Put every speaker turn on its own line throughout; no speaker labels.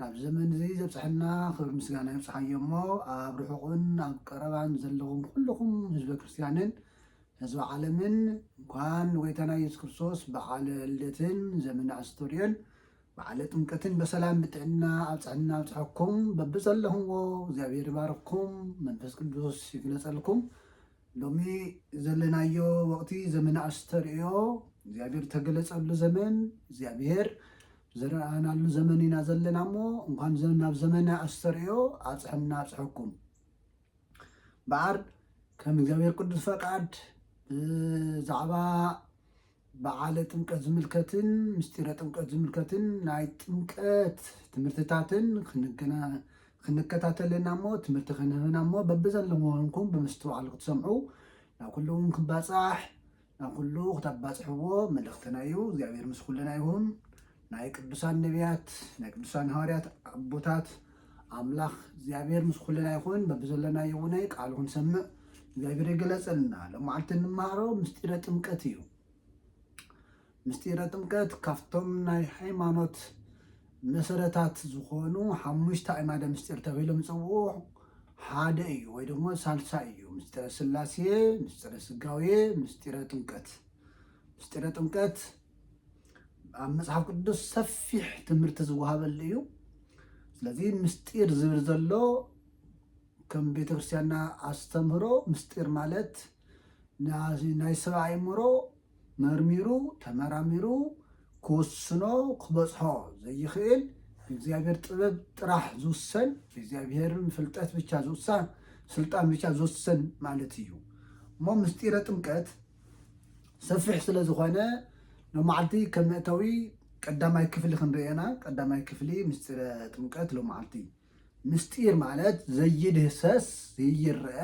ናብ ዘመን እዚ ዘብጽሐና ክብሪ ምስጋና ይብጽሓዮ እሞ ኣብ ርሑቕን ኣብ ቀረባን ዘለኹም ኩሉኹም ህዝበ ክርስትያንን ህዝበ ዓለምን እንኳን ንጎይታና ኢየሱስ ክርስቶስ በዓለ ልደትን ዘመነ ኣስተርእዮን በዓለ ጥምቀትን በሰላም ብጥዕና ኣብጽሐና ኣብጽሐኩም በብዘለኹምዎ እግዚኣብሔር ይባርኩም መንፈስ ቅዱስ ይግለጸልኩም ሎሚ ዘለናዮ ወቕቲ ዘመነ ኣስተርእዮ እግዚኣብሔር ዝተገለፀሉ ዘመን እግዚኣብሔር ዝረኣናሉ ዘመን ኢና ዘለና እሞ እንኳን ናብ ዘመነ ኣስተርእዮ ኣፅሐና ኣፅሐኩም በዓር ከም እግዚኣብሔር ቅዱስ ፈቃድ ብዛዕባ በዓለ ጥምቀት ዝምልከትን ምስጢረ ጥምቀት ዝምልከትን ናይ ጥምቀት ትምህርትታትን ክንከታተልና እሞ ትምህርቲ ክንህብና እሞ በብዘለሞ ኹንኩም ብምስትውዓል ክትሰምዑ ናብ ኩሉ እውን ክባፃሕ ናብ ኩሉ ክተባፅሕዎ መልእኽትና እዩ እግዚኣብሔር ምስ ኩልና ይኹን ናይ ቅዱሳን ነብያት ናይ ቅዱሳን ሃዋርያት ኣቦታት ኣምላኽ እግዚኣብሔር ምስ ኩልና ይኹን በብዘለናዮ እውናይ ቃሉ ክንሰምዕ እግዚኣብሔር የገለጸልና ሎማዓልቲ እንመሃሮ ምስጢረ ጥምቀት እዩ ምስጢረ ጥምቀት ካብቶም ናይ ሃይማኖት መሰረታት ዝኾኑ ሓሙሽተ ኣዕማደ ምስጢር ተባሂሎም ዝፅውዑ ሓደ እዩ ወይ ደግሞ ሳልሳይ እዩ ምስጢረ ስላሴ ምስጢረ ስጋዌ ምስጢረ ጥምቀት ምስጢረ ጥምቀት ኣብ መጽሓፍ ቅዱስ ሰፊሕ ትምህርቲ ዝወሃበሉ እዩ ስለዚ ምስጢር ዝብል ዘሎ ከም ቤተክርስትያንና ኣስተምህሮ ምስጢር ማለት ናይ ሰብ ኣእምሮ መርሚሩ ተመራሚሩ ክወስኖ ክበፅሖ ዘይኽእል እግዚኣብሔር ጥበብ ጥራሕ ዝውሰን እግዚኣብሔርን ፍልጠት ብቻ ዝውሳ ስልጣን ብቻ ዝውሰን ማለት እዩ እሞ ምስጢረ ጥምቀት ሰፊሕ ስለ ዝኾነ ሎማዓልቲ ከም መእተዊ ቀዳማይ ክፍሊ ክንሪኦ ኢና። ቀዳማይ ክፍሊ ምስጢረ ጥምቀት ሎማዓልቲ ምስጢር ማለት ዘይድህሰስ ዘይረአ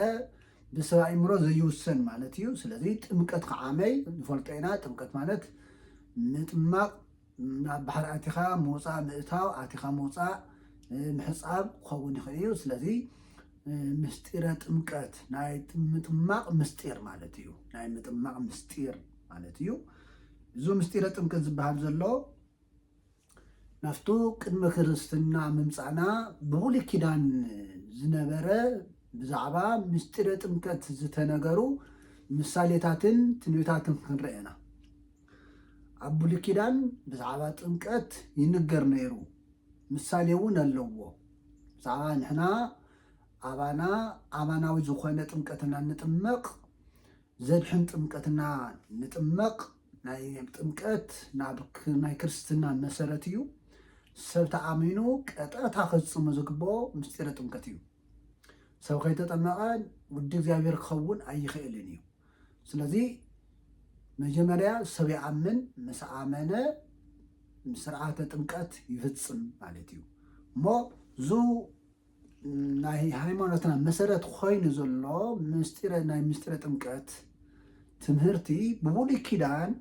ብሰብ ኣእምሮ ዘይውሰን ማለት እዩ። ስለዚ ጥምቀት ከዓመይ ንፈልጦ ኢና። ጥምቀት ማለት ምጥማቕ ኣብ ባሕሪ ኣቲኻ ምውፃእ ምእታው ኣቲኻ ምውፃእ ምሕፃብ ክኸውን ይኽእል እዩ። ስለዚ ምስጢረ ጥምቀት ናይ ምጥማቕ ምስጢር ማለት እዩ። ናይ ምጥማቕ ምስጢር ማለት እዩ። እዚ ምስጢረ ጥምቀት ዝበሃል ዘሎ ናፍቱ ቅድመ ክርስትና ምምፃእና ብብሉይ ኪዳን ዝነበረ ብዛዕባ ምስጢረ ጥምቀት ዝተነገሩ ምሳሌታትን ትንቢታትን ክንርኢ ኢና ኣብ ብሉይ ኪዳን ብዛዕባ ጥምቀት ይንገር ነይሩ ምሳሌ እውን ኣለዎ ብዛዕባ ንሕና ኣባና ኣማናዊ ዝኾነ ጥምቀት እና ንጥመቕ ዘድሕን ጥምቀት እና ንጥመቕ ናይ ጥምቀት ናብ ናይ ክርስትና መሰረት እዩ ሰብ ተኣሚኑ ቀጥታ ክፍፅሙ ዝግብኦ ምስጢረ ጥምቀት እዩ ሰብ ከይተጠመቐ ውዲ እግዚኣብሔር ክኸውን ኣይኽእልን እዩ ስለዚ መጀመርያ ሰብ ይኣምን ምስ ኣመነ ስርዓተ ጥምቀት ይፍፅም ማለት እዩ እሞ ዙ ናይ ሃይማኖትና መሰረት ኮይኑ ዘሎ ምስጢረ ናይ ምስጢረ ጥምቀት ትምህርቲ ብብሉይ ኪዳን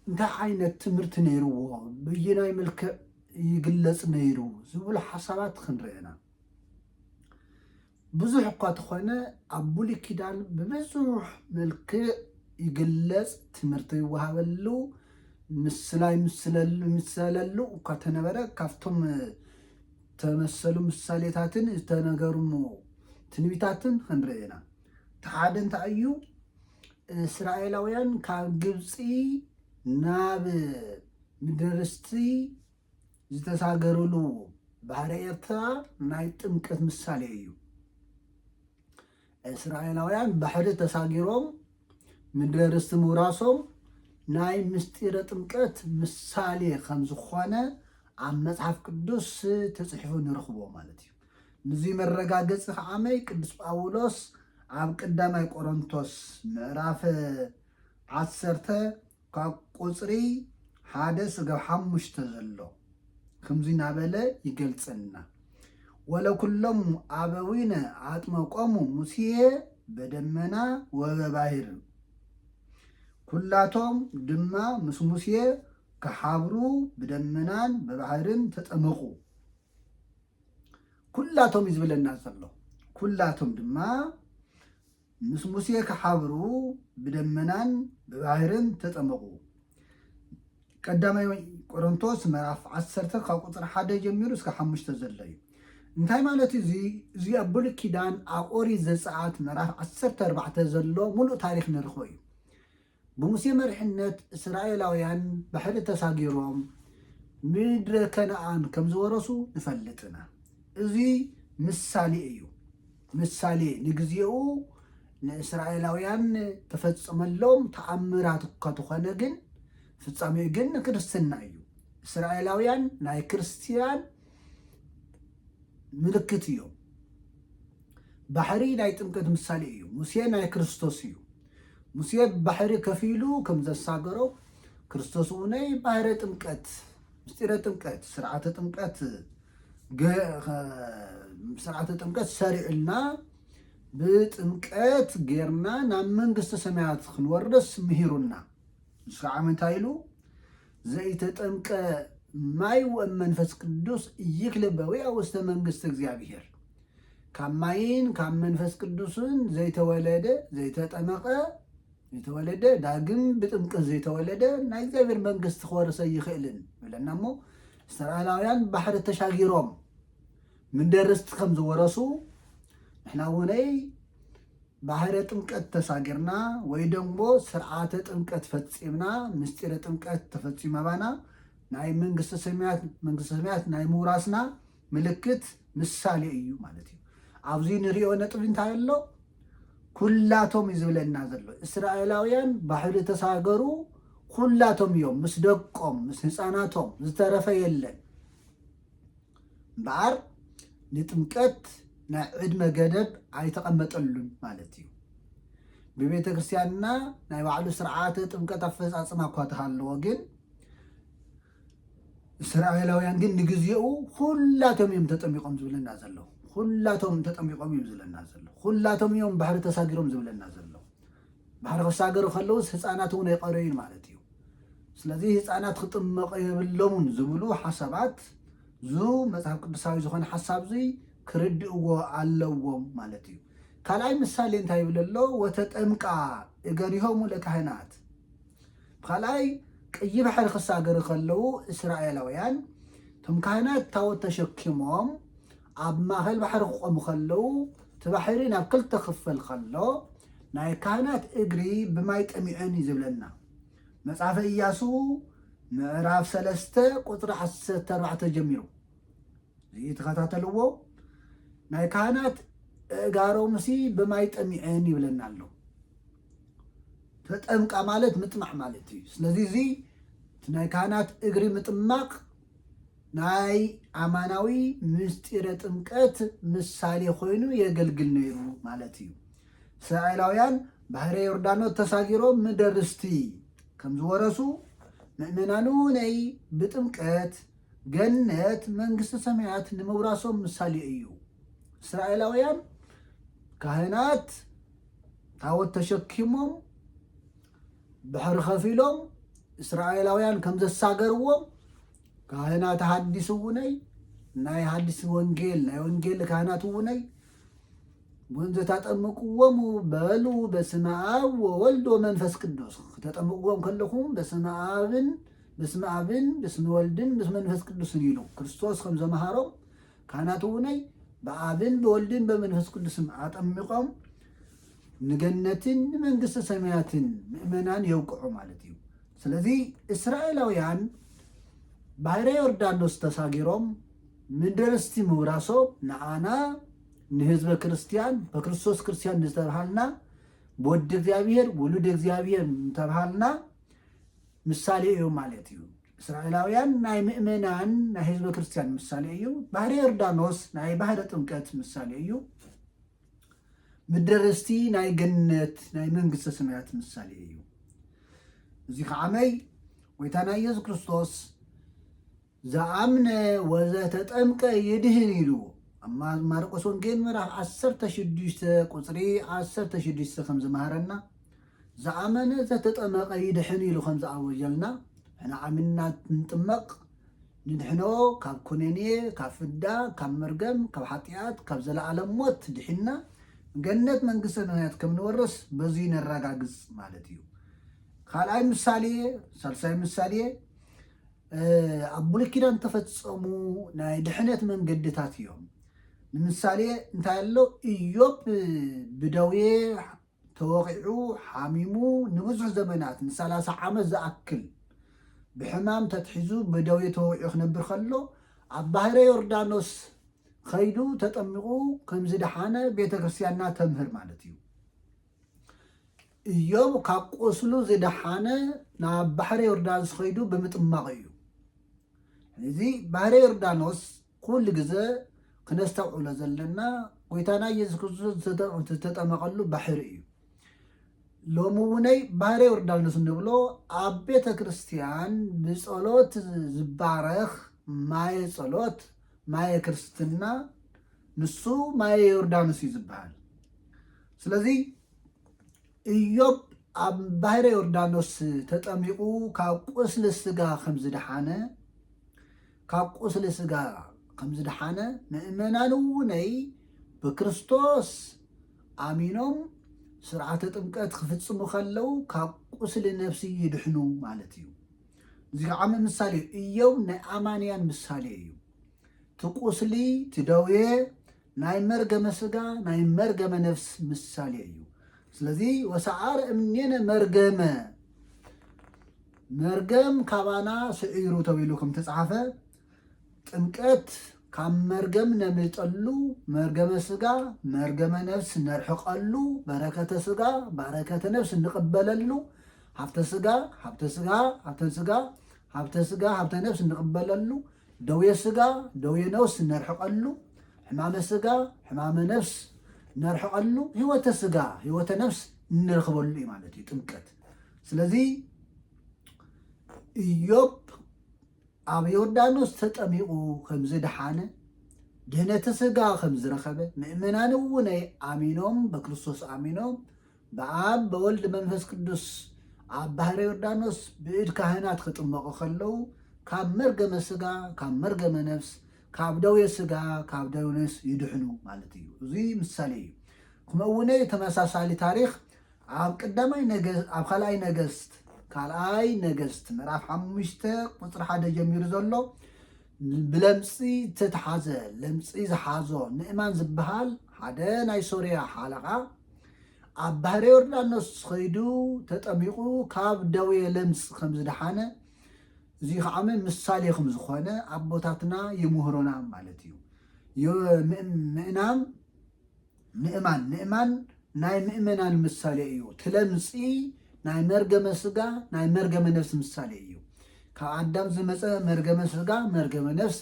እንታይ ዓይነት ትምህርቲ ነይርዎ ብይናይ መልክዕ ይግለፅ ነይሩ ዝብሉ ሓሳባት ክንርአና ብዙሕ እኳ ተኾነ ኣብ ብሉይ ኪዳን ብብዙሕ መልክዕ ይግለጽ ትምህርት ይወሃበሉ ምስላ ይምሰለሉ እኳ ተነበረ ካብቶም ተመሰሉ ምሳሌታትን ዝተነገርሙ ትንቢታትን ክንርኢ ኢና እቲ ሓደ እንታይ እዩ እስራኤላውያን ካብ ግብጺ ናብ ምድርስቲ ዝተሳገርሉ ባህረ ኤርትራ ናይ ጥምቀት ምሳሌ እዩ። እስራኤላውያን ባሕሪ ተሳጊሮም ምድረ ርስቲ ምውራሶም ናይ ምስጢረ ጥምቀት ምሳሌ ከም ዝኾነ ኣብ መጽሓፍ ቅዱስ ተጽሒፉ ንረኽቦ ማለት እዩ ንዙ መረጋገፂ ከዓመይ ቅዱስ ጳውሎስ ኣብ ቀዳማይ ቆሮንቶስ ምዕራፍ ዓሰርተ ካብ ቁጽሪ ሓደ ስጋብ ሓሙሽተ ዘሎ ክምዚ ናበለ ይገልጸልና ወለኩሎሙ ኣበዊነ ኣጥመቆሙ ሙስየ በደመና ወበባሂር ኩላቶም ድማ ምስ ሙስየ ክሓብሩ ብደመናን ብባህርን ተጠመቁ ኩላቶም እዩ ዝበለና ዘሎ ኩላቶም ድማ ምስ ሙሴ ክሓብሩ ብደመናን ብባህርን ተጠመቑ። ቀዳማይ ቆሮንቶስ ምዕራፍ ዓሰርተ ካብ ቁፅሪ ሓደ ጀሚሩ እስከ ሓሙሽተ ዘሎ እዩ። እንታይ ማለት እዩ እዚ እዚ ኣብ ብሉይ ኪዳን ኣብ ኦሪት ዘፀኣት ምዕራፍ ዓሰርተ ኣርባዕተ ዘሎ ሙሉእ ታሪክ ንርክቦ እዩ። ብሙሴ መሪሕነት እስራኤላውያን ባሕሪ ተሳጊሮም ምድረ ከነኣን ከም ዝወረሱ ንፈልጥ እና። እዚ ምሳሌ እዩ። ምሳሌ ንግዜኡ ንእስራኤላውያን ተፈጸመሎም ተኣምራት እኳ ተኾነ ግን ፍጻሜኡ ግን ንክርስትና እዩ። እስራኤላውያን ናይ ክርስትያን ምልክት እዮም። ባሕሪ ናይ ጥምቀት ምሳሌ እዩ። ሙሴ ናይ ክርስቶስ እዩ። ሙሴ ባሕሪ ከፊሉ ከም ዘሳገሮ ክርስቶስ እውን ባህረ ጥምቀት ምስጢረ ጥምቀት ስርዓተ ጥምቀት ስርዓተ ጥምቀት ሰሪዕልና ብጥምቀት ጌርና ናብ መንግስተ ሰማያት ክንወርደስ ምሂሩና ንሱ ከዓ ምንታይ ኢሉ ዘይተጠምቀ ማይ ወመንፈስ ቅዱስ ይክልበዊ ውስተ መንግስቲ እግዚኣብሄር ካብ ማይን ካብ መንፈስ ቅዱስን ዘይተወለደ፣ ዘይተጠመቐ፣ ዘይተወለደ፣ ዳግም ብጥምቅት ዘይተወለደ ናይ እግዚኣብሔር መንግስቲ ክወርስ ኣይኽእልን ይብለና እሞ እስተርኣላውያን ባሕሪ ተሻጊሮም ምንደርስቲ ከም ዝወረሱ ንሕና እውነይ ባህረ ጥምቀት ተሳጊርና ወይ ደግሞ ስርዓተ ጥምቀት ፈፂምና ምስጢረ ጥምቀት ተፈፂመባና ናይ መንግስተ ሰማያት መንግስተ ሰማያት ናይ ምውራስና ምልክት ምሳሌ እዩ ማለት እዩ። ኣብዚ ንሪኦ ነጥቢ እንታይ ኣሎ? ኩላቶም እዩ ዝብለና ዘሎ። እስራኤላውያን ባሕሪ ተሳገሩ ኩላቶም እዮም፣ ምስ ደቆም ምስ ህፃናቶም ዝተረፈ የለን። እምበኣር ንጥምቀት ናይ ዕድመ ገደብ ኣይተቐመጠሉን ማለት እዩ። ብቤተ ክርስቲያንና ናይ ባዕሉ ስርዓተ ጥምቀት ኣፈፃፅማ እኳ ተሃለዎ ግን እስራኤላውያን ግን ንግዜኡ ኹላቶም እዮም ተጠሚቆም ዝብለና ዘሎ ኹላቶም ተጠሚቆም እዮም ዝብለና ዘሎ ኹላቶም እዮም ባሕሪ ተሳጊሮም ዝብለና ዘሎ ባሕሪ ክሳገሩ ከለውስ ህፃናት እውን ኣይቀረዩን ማለት እዩ ስለዚ ህፃናት ክጥመቀ የብሎምን ዝብሉ ሓሳባት ዙ መፅሓፍ ቅዱሳዊ ዝኾነ ሓሳብ ዙይ ክርድእዎ ኣለዎም ማለት እዩ ካልኣይ ምሳሌ እንታይ ይብለሎ ወተጠምቃ እገሪሆሙ ለካህናት ብካልኣይ ቀይሕ ባሕሪ ክሳገሩ ከለዉ እስራኤላውያን እቶም ካህናት ታቦት ተሸኪሞም ኣብ ማእኸል ባሕሪ ክቆሙ ከለዉ እቲ ባሕሪ ናብ ክልተ ክፈል ከሎ ናይ ካህናት እግሪ ብማይ ጠሚዐን እዩ ዝብለና መጽሓፈ ኢያሱ ምዕራፍ ሰለስተ ቁፅሪ ዓሰርተ ኣርባዕተ ጀሚሩ እዚ ተኸታተልዎ ናይ ካህናት እእጋሮምሲ ብማይ ጠሚዐን ይብለና ኣሎ ተጠምቃ ማለት ምጥማዕ ማለት እዩ። ስለዚ እዚ እቲ ናይ ካህናት እግሪ ምጥማቕ ናይ ኣማናዊ ምስጢረ ጥምቀት ምሳሌ ኮይኑ የገልግል ነይሩ ማለት እዩ። እስራኤላውያን ባሕረ ዮርዳኖስ ተሳጊሮም ምድረ ርስቲ ከም ዝወረሱ ምእመናኑ ነይ ብጥምቀት ገነት መንግስቲ ሰማያት ንምውራሶም ምሳሌ እዩ። እስራኤላውያን ካህናት ታወት ተሸኪሞም ባሕሪ ከፊሎም እስራኤላውያን ከም ዘሳገርዎም ካህናት ሃዲስ እውነይ ናይ ሃዲስ ወንጌል ናይ ወንጌል ካህናት እውነይ ወንዘ ታጠምቅዎሙ በሉ በስመ ኣብ ወወልድ ወመንፈስ ቅዱስ ተጠምቅዎም ከለኹም በስመ ኣብን በስመ ኣብን በስመ ወልድን በስመ መንፈስ ቅዱስን ኢሉ ክርስቶስ ከም ዘምሃሮም ካህናትውነይ ብኣብን ብወልድን በመንፈስ ቅዱስም ኣጠሚቆም ንገነትን ንመንግስተ ሰማያትን ምእመናን የውቅዑ ማለት እዩ። ስለዚ እስራኤላውያን ባሕረ ዮርዳኖስ ተሳጊሮም ምደርስቲ ምውራሶም ንኣና ንህዝበ ክርስቲያን በክርስቶስ ክርስቲያን ዝተብሃልና ብወዲ እግዚኣብሔር ውሉድ እግዚኣብሔር እንተብሃልና ምሳሌ እዮም ማለት እዩ። እስራኤላውያን ናይ ምእመናን ናይ ህዝበ ክርስቲያን ምሳሌ እዩ። ባህረ ዮርዳኖስ ናይ ባህረ ጥምቀት ምሳሌ እዩ። ምድረ ርስቲ ናይ ገነት ናይ መንግስተ ሰማያት ምሳሌ እዩ። እዚ ከዓመይ ጎይታና ኢየሱስ ክርስቶስ ዝኣምነ ወዘተጠምቀ ይድህን ኢሉ ኣብ ማርቆስ ወንጌል ምዕራፍ ዓሰርተ ሽዱሽተ ቁፅሪ ዓሰርተ ሽዱሽተ ከም ዝመሃረና ዝኣመነ ዘተጠመቐ ይድሕን ኢሉ ከም ዝኣወጀልና ሕና ኣሚንና ንጥመቕ ንድሕኖ ካብ ኩነኔ ካብ ፍዳ ካብ መርገም ካብ ሓጢኣት ካብ ዘለኣለም ሞት ድሒና ገነት መንግስተ ሰማያት ከም ንወርስ በዙይ ነረጋግፅ ማለት እዩ ካልኣይ ምሳሌ ሳልሳይ ምሳሌ ኣብ ብሉይ ኪዳን ተፈጸሙ ናይ ድሕነት መንገድታት እዮም። ንምሳሌ እንታይ ኣሎ ኢዮብ ብደዌ ተወቒዑ ሓሚሙ ንብዙሕ ዘመናት ንሰላሳ ዓመት ዝኣክል ብሕማም ተትሒዙ ብደዌ ተወቒዑ ክነብር ከሎ ኣብ ባህረ ዮርዳኖስ ከይዱ ተጠሚቑ ከምዝደሓነ ቤተ ክርስቲያንና ተምህር ማለት እዩ። እዮብ ካብ ቁስሉ ዝደሓነ ናብ ባሕረ ዮርዳንስ ኸይዱ ብምጥማቕ እዩ። እዚ ባሕረ ዮርዳኖስ ኩሉ ግዘ ክነስተውዕሎ ዘለና ጎይታና ኢየሱስ ክርስቶስ ዝተጠመቐሉ ባሕሪ እዩ። ሎሚ እውነይ ባህረ ዮርዳኖስ ንብሎ ኣብ ቤተ ክርስቲያን ብጸሎት ዝባረኽ ማየ ጸሎት ማየ ክርስትና ንሱ ማየ ዮርዳኖስ እዩ ዝበሃል። ስለዚ እዮብ ኣብ ባሕረ ዮርዳኖስ ተጠሚቑ ካብ ቁስሊ ስጋ ከም ዝደሓነ ካብ ቁስሊ ስጋ ከም ዝደሓነ ምእመናን እውነይ ብክርስቶስ ኣሚኖም ስርዓተ ጥምቀት ክፍጽሙ ከለው ካብ ቁስሊ ነፍሲ ይድሕኑ ማለት እዩ እዚ ከዓ ምሳሌ እዩ እዮብ ናይ ኣማንያን ምሳሌ እዩ እቲ ቁስሊ እቲ ደዌ ናይ መርገመ ስጋ ናይ መርገመ ነፍስ ምሳሌ እዩ። ስለዚ ወሰዓረ እምኔነ መርገመ መርገም ካባና ስዒሩ ተብሉ ከም ተጻሓፈ ጥምቀት ካብ መርገም ነምልጠሉ መርገመ ስጋ መርገመ ነፍስ ነርሕቀሉ በረከተ ስጋ በረከተ ነፍስ እንቅበለሉ ሃብተ ስጋ ሃብተ ስጋ ሃብተ ስጋ ሃብተ ስጋ ሃብተ ነፍስ እንቅበለሉ ደዌ ስጋ ደዌ ነውስ እነርሕቐሉ፣ ሕማመ ስጋ ሕማመ ነፍስ እነርሕቐሉ፣ ህይወተ ስጋ ህይወተ ነፍስ እንረኽበሉ እዩ ማለት እዩ ጥምቀት። ስለዚ እዮብ ኣብ ዮርዳኖስ ተጠሚቑ ከም ዝደሓነ ድህነተ ስጋ ከም ዝረኸበ ምእመናን እውን ኣሚኖም በክርስቶስ ኣሚኖም ብኣብ በወልድ መንፈስ ቅዱስ ኣብ ባሕረ ዮርዳኖስ ብእድ ካህናት ክጥመቑ ከለዉ ካብ መርገመ ስጋ ካብ መርገመ ነፍስ ካብ ደዌ ስጋ ካብ ደዌ ነፍስ ይድሕኑ ማለት እዩ። እዚ ምሳሌ እዩ። ክመውነይ ተመሳሳሊ ታሪኽ ኣብ ቀዳማይ ነገስት ኣብ ካልኣይ ነገስት ካልኣይ ነገስት ምዕራፍ ሓሙሽተ ቁፅሪ ሓደ ጀሚሩ ዘሎ ብለምፂ ዝተትሓዘ ለምፂ ዝሓዞ ንእማን ዝበሃል ሓደ ናይ ሶርያ ሓለቓ ኣብ ባህረ ዮርዳኖስ ኸይዱ ተጠሚቑ ካብ ደዌ ለምጽ ከም ዝደሓነ እዚ ከዓ ምሳሌ ከም ዝኾነ ኣቦታትና ይምህሮና ማለት እዩ ምእናን ምእማን ምእማን ናይ ምእመናን ምሳሌ እዩ ትለምፂ ናይ መርገመ ስጋ ናይ መርገመ ነፍሲ ምሳሌ እዩ ካብ ኣዳም ዝመፀ መርገመ ስጋ መርገመ ነፍስ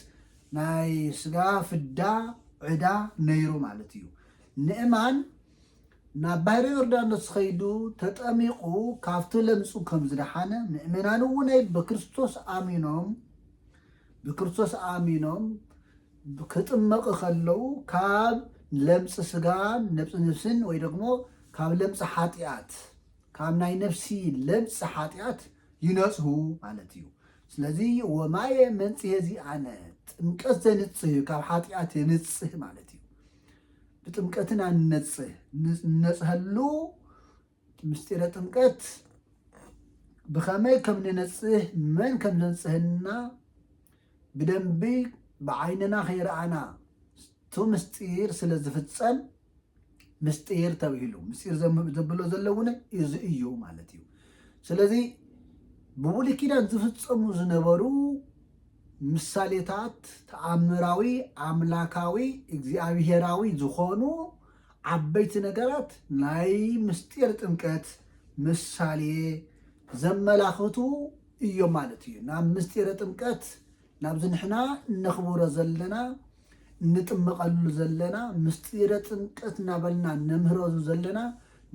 ናይ ስጋ ፍዳ ዕዳ ነይሩ ማለት እዩ ንእማን ናብ ባሕሪ ዮርዳኖስ ኸይዱ ተጠሚቑ ካብቲ ለምጹ ከም ዝደሓነ ምእመናን እውነይ ብክርስቶስ ኣሚኖም ብክርስቶስ ኣሚኖም ክጥመቕ ከለዉ ካብ ለምጽ ስጋን ነብጽ ነፍስን ወይ ደግሞ ካብ ለምጽ ሓጢኣት ካብ ናይ ነፍሲ ለምጽ ሓጢኣት ይነጽሁ ማለት እዩ። ስለዚ ወማየ መንጽሔ ዚኣነ ጥምቀት ዘንጽህ ካብ ሓጢኣት የንጽህ ማለት እዩ። ብጥምቀትን ኣንነጽህ ንነጽሀሉ ምስጢረ ጥምቀት ብኸመይ ከም ንነጽህ መን ከም ዘንጽህና ብደንቢ ብዓይንና ከይረኣና እቲ ምስጢር ስለ ዝፍጸም ምስጢር ተብሂሉ ምስጢር ዘብሎ ዘሎ እውን እዚ እዩ ማለት እዩ ስለዚ ብብሉይ ኪዳን ዝፍጸሙ ዝነበሩ ምሳሌታት ተኣምራዊ ኣምላካዊ እግዚኣብሄራዊ ዝኾኑ ዓበይቲ ነገራት ናይ ምስጢር ጥምቀት ምሳሌ ዘመላኽቱ እዮም ማለት እዩ። ናብ ምስጢረ ጥምቀት ናብዚ ንሕና እነኽብሮ ዘለና እንጥመቐሉ ዘለና ምስጢረ ጥምቀት እናበልና እነምህረሉ ዘለና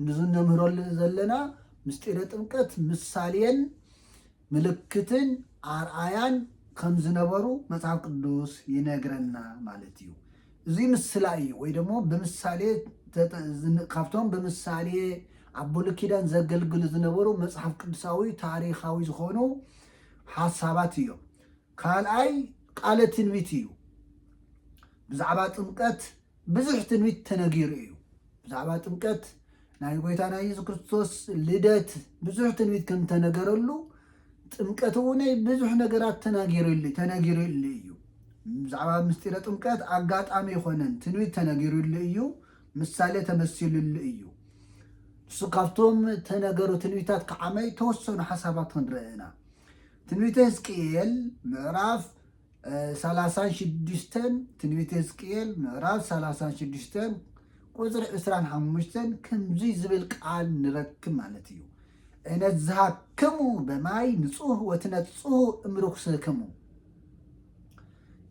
ንዚ እነምህረሉ ዘለና ምስጢረ ጥምቀት ምሳሌን ምልክትን ኣርኣያን ከም ዝነበሩ መጽሓፍ ቅዱስ ይነግረና ማለት እዩ። እዙይ ምስላ እዩ ወይ ደሞ ብምሳሌ ካብቶም ብምሳሌ ኣብ ብሉይ ኪዳን ዘገልግሉ ዝነበሩ መጽሓፍ ቅዱሳዊ ታሪኻዊ ዝኾኑ ሓሳባት እዮም። ካልኣይ ቃለ ትንቢት እዩ። ብዛዕባ ጥምቀት ብዙሕ ትንቢት ተነጊሩ እዩ። ብዛዕባ ጥምቀት ናይ ጎይታና ኢየሱስ ክርስቶስ ልደት ብዙሕ ትንቢት ከም ተነገረሉ ጥምቀት እውን ብዙሕ ነገራት ተናጊሩሉ ተነጊሩሉ እዩ። ብዛዕባ ምስጢረ ጥምቀት ኣጋጣሚ ይኮነን ትንቢት ተነጊሩሉ እዩ። ምሳሌ ተመሲሉሉ እዩ። ንሱ ካብቶም ተነገሩ ትንቢታት ክዓመይ ተወሰኑ ሓሳባት ክንርአ ኢና። ትንቢተ ህዝቅኤል ምዕራፍ ሰላሳን ሽዱሽተን ትንቢተ ህዝቅኤል ምዕራፍ ሰላሳን ሽዱሽተን ቁፅሪ ዕስራን ሓሙሽተን ከምዙይ ዝብል ቃል ንረክብ ማለት እዩ እነዝሃክሙ በማይ ንፁህ ወትነፅሁ እምርኩስክሙ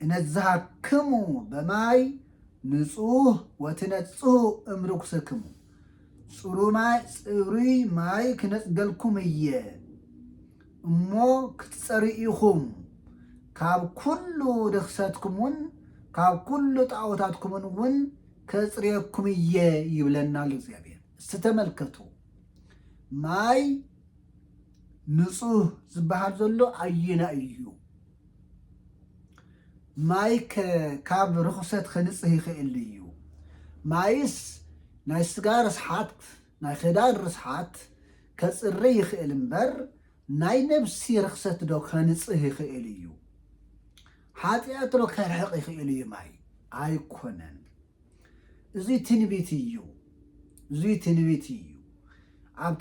እነዝሃክሙ በማይ ንፁህ ወትነፅሁ እምርኩስክሙ ፅሩይ ማይ ክነፅገልኩም እየ እሞ ክትጸርዩ ኢኹም፣ ካብ ኵሉ ርኽሰትኩምን ካብ ኵሉ ጣኦታትኩምን እውን ከጽርየኩም እየ ይብለና ኣሎ እግዚኣብሔር። እስቲ ተመልከቱ፣ ማይ ንጹህ ዝበሃል ዘሎ ኣየናይ እዩ? ማይ ካብ ርኹሰት ከንጽህ ይኽእል እዩ። ማይስ ናይ ስጋ ርስሓት ናይ ክዳን ርስሓት ከጽሪ ይኽእል እምበር ናይ ነብሲ ርኽሰት ዶ ከንጽህ ይኽእል እዩ? ሓጥያት ዶ ከርሕቕ ይኽእል እዩ ማይ? ኣይኮነን። እዙይ ትንቢት እዩ። እዙይ ትንቢት እዩ። ኣብ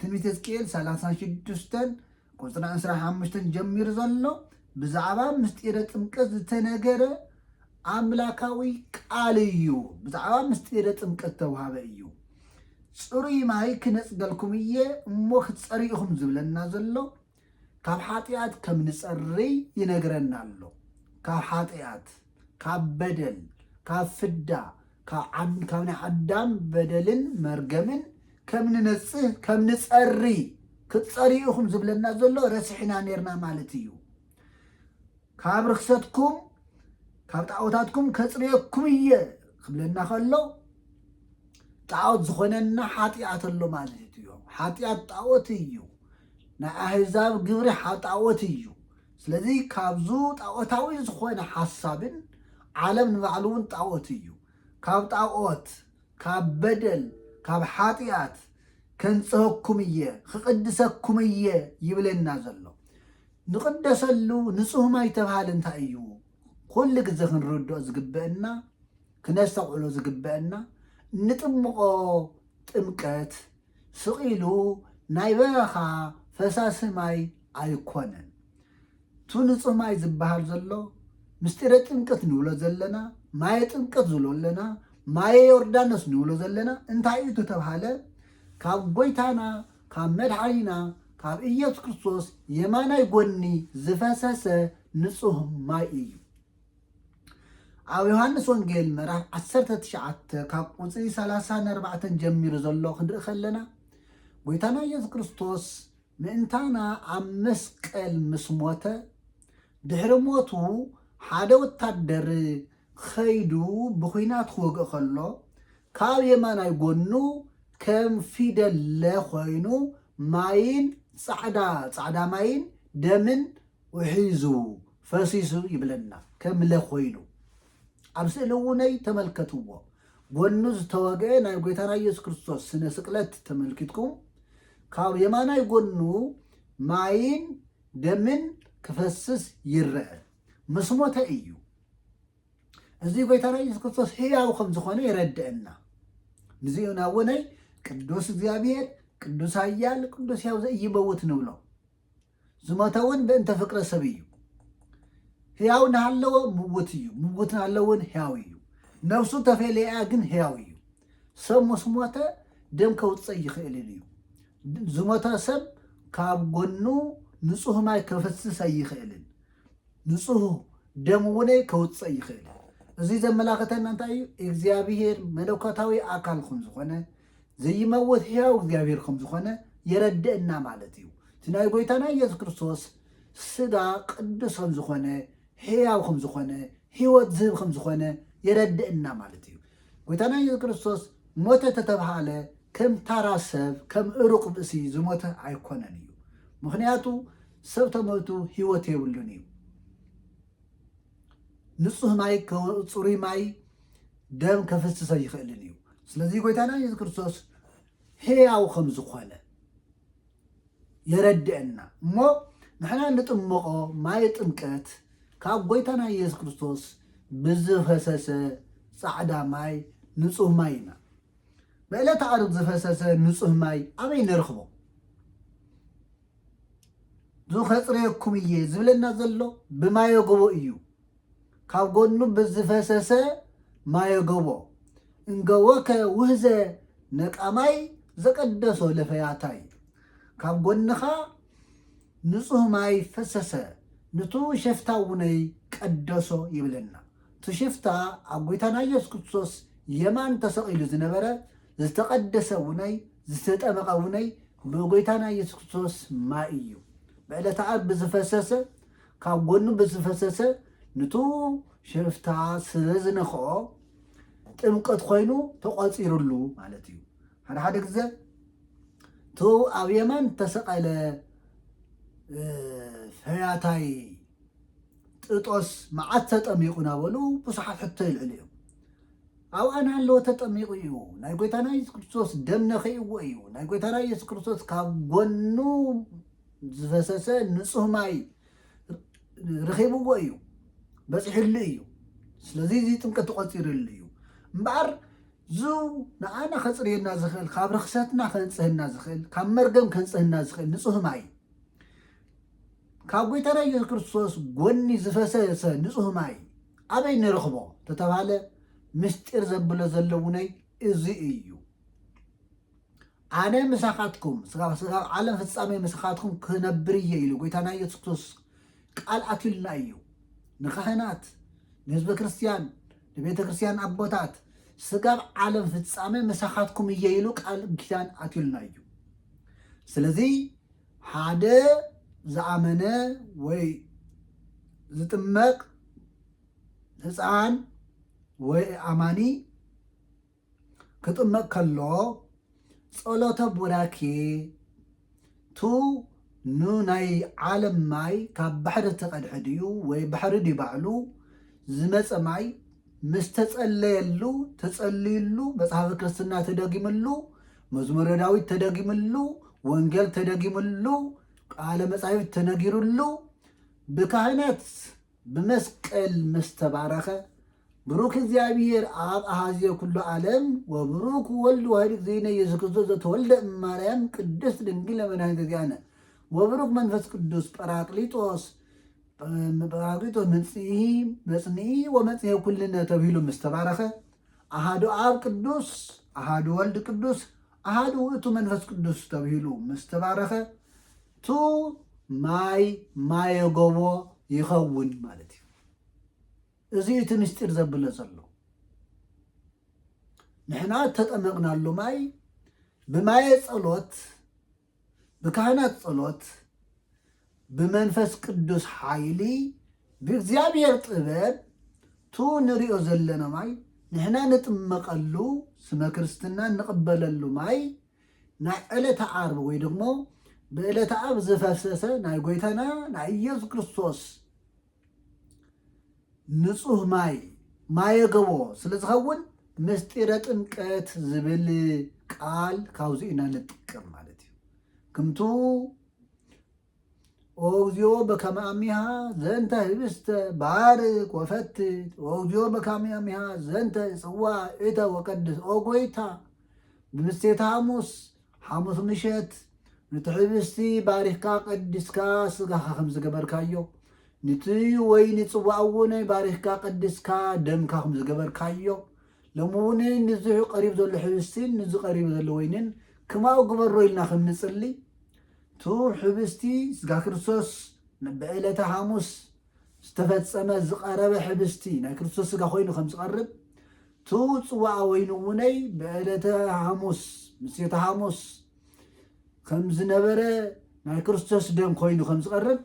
ትንቢት ሕዝቅኤል ሰላሳን ሽዱሽተን ቁጽሪ ዕስራ ሓሙሽተ ጀሚሩ ዘሎ ብዛዕባ ምስጢረ ጥምቀት ዝተነገረ ኣምላካዊ ቃል እዩ። ብዛዕባ ምስጢረ ጥምቀት ተውሃበ እዩ። ጽሩይ ማይ ክነጽገልኩም እየ እሞ ክትጸርኢኹም ዝብለና ዘሎ ካብ ሓጢኣት ከም ንጸርይ ይነግረና ኣሎ ካብ ሓጢኣት ካብ በደል ካብ ፍዳ ካብ ካብ ናይ ኣዳም በደልን መርገምን ከም ንነጽህ ከም ንጸሪ ክትጸርዩ ኢኹም ዝብለና ዘሎ ረሲሕና ኔርና ማለት እዩ ካብ ርክሰትኩም ካብ ጣዖታትኩም ከጽርየኩም እየ ክብለና ከሎ ጣዖት ዝኾነና ሓጢኣት ኣሎ ማለት እዩ ሓጢኣት ጣዖት እዩ ናይ ኣህዛብ ግብሪ ጣዖት እዩ ስለዚ ካብዙ ጣኦታዊ ዝኾነ ሓሳብን ዓለም ንባዕሉ ውን ጣኦት እዩ ካብ ጣኦት ካብ በደል ካብ ሓጢኣት ከንፅሀኩም እየ ክቕድሰኩም እየ ይብለና ዘሎ ንቕደሰሉ ንፁህ ማይ ተብሃል እንታይ እዩ ኩሉ ግዘ ክንርድኦ ዝግበእና ክነስተውዕሎ ዝግበእና እንጥምቖ ጥምቀት ስቕ ኢሉ ናይ በረኻ ፈሳሲ ማይ ኣይኮነን። እቱ ንፁህ ማይ ዝበሃል ዘሎ ምስጢረ ጥምቅት ንብሎ ዘለና ማየ ጥምቅት ዝብሎ ኣለና ማየ ዮርዳኖስ ንብሎ ዘለና እንታይ እዩ ተተብሃለ ካብ ጎይታና ካብ መድሓኒና ካብ ኢየሱስ ክርስቶስ የማናይ ጎኒ ዝፈሰሰ ንፁህ ማይ እዩ። ኣብ ዮሃንስ ወንጌል ምዕራፍ ዓሰርተ ትሽዓተ ካብ ቁፅሪ ሰላሳ ንኣርባዕተን ጀሚሩ ዘሎ ክንርኢ ከለና ጎይታና ኢየሱስ ክርስቶስ ምእንታና ኣብ መስቀል ምስ ሞተ ድሕሪ ሞቱ ሓደ ወታደር ኸይዱ ብኹናት ክወግእ ከሎ ካብ የማናይ ጎኑ ከም ፊደለ ኮይኑ ማይን ፃዕዳ ፃዕዳ ማይን ደምን ውሒዙ ፈሲሱ ይብለና ከም ለ ኮይኑ ኣብ ስእሊ ውነይ ተመልከትዎ ጎኑ ዝተወግኤ ናይ ጎይታና ኢየሱስ ክርስቶስ ስነ ስቅለት ተመልኪትኩም ካብ የማናይ ጎኑ ማይን ደምን ክፈስስ ይረአ ምስ ሞተ እዩ እዚ ጎይታና ኢየሱስ ክርስቶስ ሕያው ከም ዝኾነ ይረድእና ምስኡና ውነይ ቅዱስ እግዚኣብሔር ቅዱስ ኣያል ቅዱስ ያው ዘኢይመውት ንብሎ ዝሞተ ውን ብእንተ ፍቅረ ሰብ እዩ ህያው ናሃለወ ምውት እዩ ምውት ናሃለወ ውን ህያው እዩ ነብሱ ተፌለያ ግን ህያው እዩ ሰብ ምስ ሞተ ደም ከውጽእ ኣይክእልን እዩ ዝሞተ ሰብ ካብ ጎኑ ንጹህ ማይ ከፈስስ ኣይክእልን ንጹህ ደም እውነይ ከውጽእ ኣይክእልን እዚ ዘመላኽተና እንታይ እዩ እግዚኣብሄር መለኮታዊ ኣካል ኹም ዝኾነ ዘይመውት ሕያው እግዚኣብሔር ከም ዝኾነ የረድእና ማለት እዩ። እቲ ናይ ጎይታና ኢየሱስ ክርስቶስ ስጋ ቅዱስ ከም ዝኾነ ሕያው ከም ዝኾነ ሕይወት ዝህብ ከም ዝኾነ የረድእና ማለት እዩ። ጎይታና ኢየሱስ ክርስቶስ ሞተ ተተብሃለ ከም ታራ ሰብ ከም እሩቕ ብእሲ ዝሞተ ኣይኮነን እዩ። ምክንያቱ ሰብ ተመቱ ሕይወት የብሉን እዩ። ንጹህ ማይ ጽሩይ ማይ ደም ከፍስሰ ይኽእልን እዩ ስለዚ ጎይታና የሱስ ክርስቶስ ሕያው ከም ዝኾነ የረድአና እሞ ንሕና ንጥመቆ ማይ ጥምቀት ካብ ጎይታና የሱስ ክርስቶስ ብዝፈሰሰ ጻዕዳ ማይ ንጹህ ማይ ኢና ብዕለተ ዓርብ ዝፈሰሰ ንጹህ ማይ ኣበይ ንረኽቦ እዙ ከፅርየኩም እየ ዝብለና ዘሎ ብማየጎቦ እዩ ካብ ጎኑ ብዝፈሰሰ ማየጎቦ እንገወከ ውህዘ ነቃማይ ዘቀደሶ ለፈያታይ ካብ ጎንኻ ንፁህ ማይ ፈሰሰ ንቱ ሸፍታ ውነይ ቀደሶ ይብለና ትሽፍታ ኣብ ጎይታና ኢየሱስ ክርስቶስ የማን ተሰቂሉ ዝነበረ ዝተቐደሰ ውነይ ዝተጠመቐ ውነይ ንጎይታና ኢየሱስ ክርስቶስ ማይ እዩ ብዕለተ ዓርብ ብዝፈሰሰ ካብ ጎኑ ብዝፈሰሰ ንቱ ሽፍታ ስለ ዝነክኦ ጥምቀት ኮይኑ ተቖፂሩሉ ማለት እዩ ሓደ ሓደ ግዘ ቱ ኣብ የማን ተሰቐለ ፈያታይ ጥጦስ መዓት ተጠሚቑ ናበሉ ብዙሓት ሕቶ ይልዕሉ እዮም ኣብኣ እናሃለወ ተጠሚቑ እዩ። ናይ ጐይታና የሱስ ክርስቶስ ደም ነኺእዎ እዩ። ናይ ጐይታና የሱስ ክርስቶስ ካብ ጐኑ ዝፈሰሰ ንጹህ ማይ ረኺብዎ እዩ፣ በጺሕሉ እዩ። ስለዚ እዚ ጥምቀት ተቖጺርሉ እዩ። እምበኣር ዙ ንኣና ከፅርየና ዝኽእል ካብ ርክሰትና ከንፅህና ዝኽእል ካብ መርገም ከንፅህና ዝኽእል ንፁህ ማይ ካብ ጎይታና ኢየሱስ ክርስቶስ ጎኒ ዝፈሰሰ ንጹህ ማይ ኣበይ ንረኽቦ ተተባለ ምስጢር ዘብሎ ዘለውነይ እዚ እዩ ኣነ ምሳኻትኩም ስጋብ ዓለም ፍጻሜ ምሳኻትኩም ክነብር እየ ኢሉ ጎይታና ኢየሱስ ክርስቶስ ቃል ኣትዩልና እዩ ንካህናት ንህዝበ ክርስትያን ንቤተ ክርስትያን ኣቦታት ስጋብ ዓለም ፍጻሜ ምሳኻትኩም እየ ኢሉ ቃል ኪዳን ኣትዩልና እዩ ስለዚ ሓደ ዝኣመነ ወይ ዝጥመቕ ህጻን ወይ ኣማኒ ክጥመቕ ከሎ ጸሎተ ቡራኬ ቱ ን ናይ ዓለም ማይ ካብ ባሕሪ ተቐድሐ ድዩ ወይ ባሕሪ ድዩ ባዕሉ ዝመፀ ማይ ምስ ተጸለየሉ ተጸልዩሉ መጽሓፈ ክርስትና ተደጊምሉ መዝሙረ ዳዊት ተደጊምሉ፣ ወንጌል ተደጊምሉ፣ ቃለ መጻሕፍት ተነጊርሉ ብካህናት ብመስቀል ምስ ተባረኸ ብሩክ እግዚኣብሔር ኣብ ኣሃዝዮ ኩሉ ዓለም ወብሩክ ወልድ ዋሕድ እግዚእነ ኢየሱስ ክርስቶስ ዘተወልደ እማርያም ቅድስት ድንግል መድኃኒተ እግዚእነ ወብሩክ መንፈስ ቅዱስ ጰራቅሊጦስ ጰራቅሊጦስ መጽንዒ ወመጽሔ ኩልነ ተብሂሉ ምስ ተባረኸ ኣሃዱ ኣብ ቅዱስ፣ ኣሃዱ ወልድ ቅዱስ፣ ኣሃዱ ውእቱ መንፈስ ቅዱስ ተብሂሉ ምስ ተባረኸ ቱ ማይ ማየ ጎቦ ይኸውን ማለት እዩ። እዚ እቲ ምስጢር ዘብሎ ዘሎ ንሕና እተጠመቕናሉ ማይ ብማየ ጸሎት ብካህናት ጸሎት ብመንፈስ ቅዱስ ሓይሊ ብእግዚኣብሔር ጥበብ ቱ ንሪኦ ዘለና ማይ ንሕና ንጥመቐሉ ስመ ክርስትና ንቕበለሉ ማይ ናይ ዕለተ ዓርብ ወይ ደግሞ ብዕለተ ዓርብ ዝፈሰሰ ናይ ጎይታና ናይ ኢየሱስ ክርስቶስ ንጹህ ማይ፣ ማየ ገቦ፣ ስለ ዝኸውን ምስጢረ ጥምቀት ዝብል ቃል ካብዚ ኢና ንጥቀም ማለት እዩ ክምቱ ኦግዚዮ በከመ አሚሃ ዘንተ ህብስተ ባርክ ወፈትት ኦግዚዮ በከመ አሚሃ ዘንተ ጽዋ እተ ወቀድስ ኦ ጎይታ ብምስቴታ ሐሙስ ሓሙስ ምሸት ኑቲ ሕብስቲ ባሪኽካ ቀዲስካ ስጋኻ ከም ዝገበርካዮ ንቲ ወይኒ ጽዋእ እውን ባሪኽካ ቀዲስካ ደምካ ከም ዝገበርካዮ ሎሚ እውን ንዚ ቀሪቡ ዘሎ ሕብስቲን ንዚ ቀሪቡ ዘሎ ወይንን ክማኡ ግበሮ ኢልና ከም ንጽሊ ቱ ሕብስቲ ስጋ ክርስቶስ ንበዕለተ ሓሙስ ዝተፈጸመ ዝቐረበ ሕብስቲ ናይ ክርስቶስ ስጋ ኮይኑ ከም ዝቐርብ እቱ ጽዋኣ ወይኑ እውነይ ብዕለተ ሃሙስ ምሴተ ሃሙስ ከም ዝነበረ ናይ ክርስቶስ ደም ኮይኑ ከም ዝቐርብ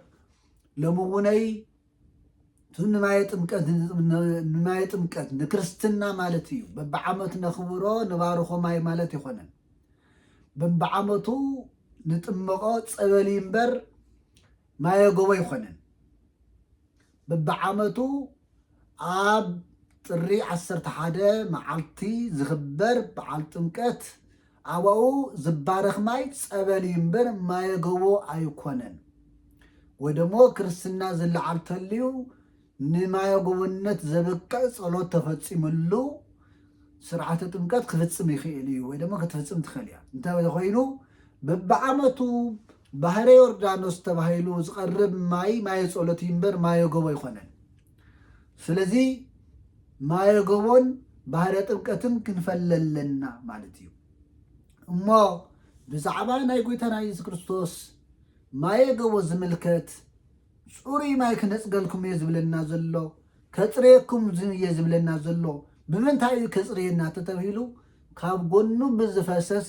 ሎሚ እውነይ እቱ ንማየ ጥምቀት ንማየ ጥምቀት ንክርስትና ማለት እዩ በብዓመቱ ነኽብሮ ንባርኾ ማይ ማለት ይኾነን በብዓመቱ ንጥመቆ ፀበል እምበር ማየ ጎቦ ይኾንን ብብዓመቱ ኣብ ጥሪ ዓሰርተ ሓደ መዓልቲ ዝኽበር በዓል ጥምቀት ኣብኡ ዝባረኽ ማይ ጸበል እዩ እምበር ማየ ጎቦ ኣይኮነን። ወይ ደግሞ ክርስትና ዝለዓል ተልዩ ንማየጉብነት ዘብቅዕ ጸሎት ተፈጺምሉ ስርዓተ ጥምቀት ክፍጽም ይኽእል እዩ ወይ ድማ ክትፍጽም ትኽእል እያ እንተኮይኑ በብዓመቱ ባህረ ዮርዳኖስ ተባሂሉ ዝቐርብ ማይ ማየ ጸሎት እዩ እምበር ማየ ጎቦ ኣይኮነን ስለዚ ማየ ጎቦን ባህረ ጥምቀትን ክንፈለለና ማለት እዩ እሞ ብዛዕባ ናይ ጎይታና የሱስ ክርስቶስ ማየ ጎቦ ዝምልከት ጽሩይ ማይ ክነጽገልኩም እየ ዝብለና ዘሎ፣ ከጽርየኩም እየ ዝብለና ዘሎ፣ ብምንታይ እዩ ከጽርየና ተተብሂሉ ካብ ጎኑ ብዝፈሰሰ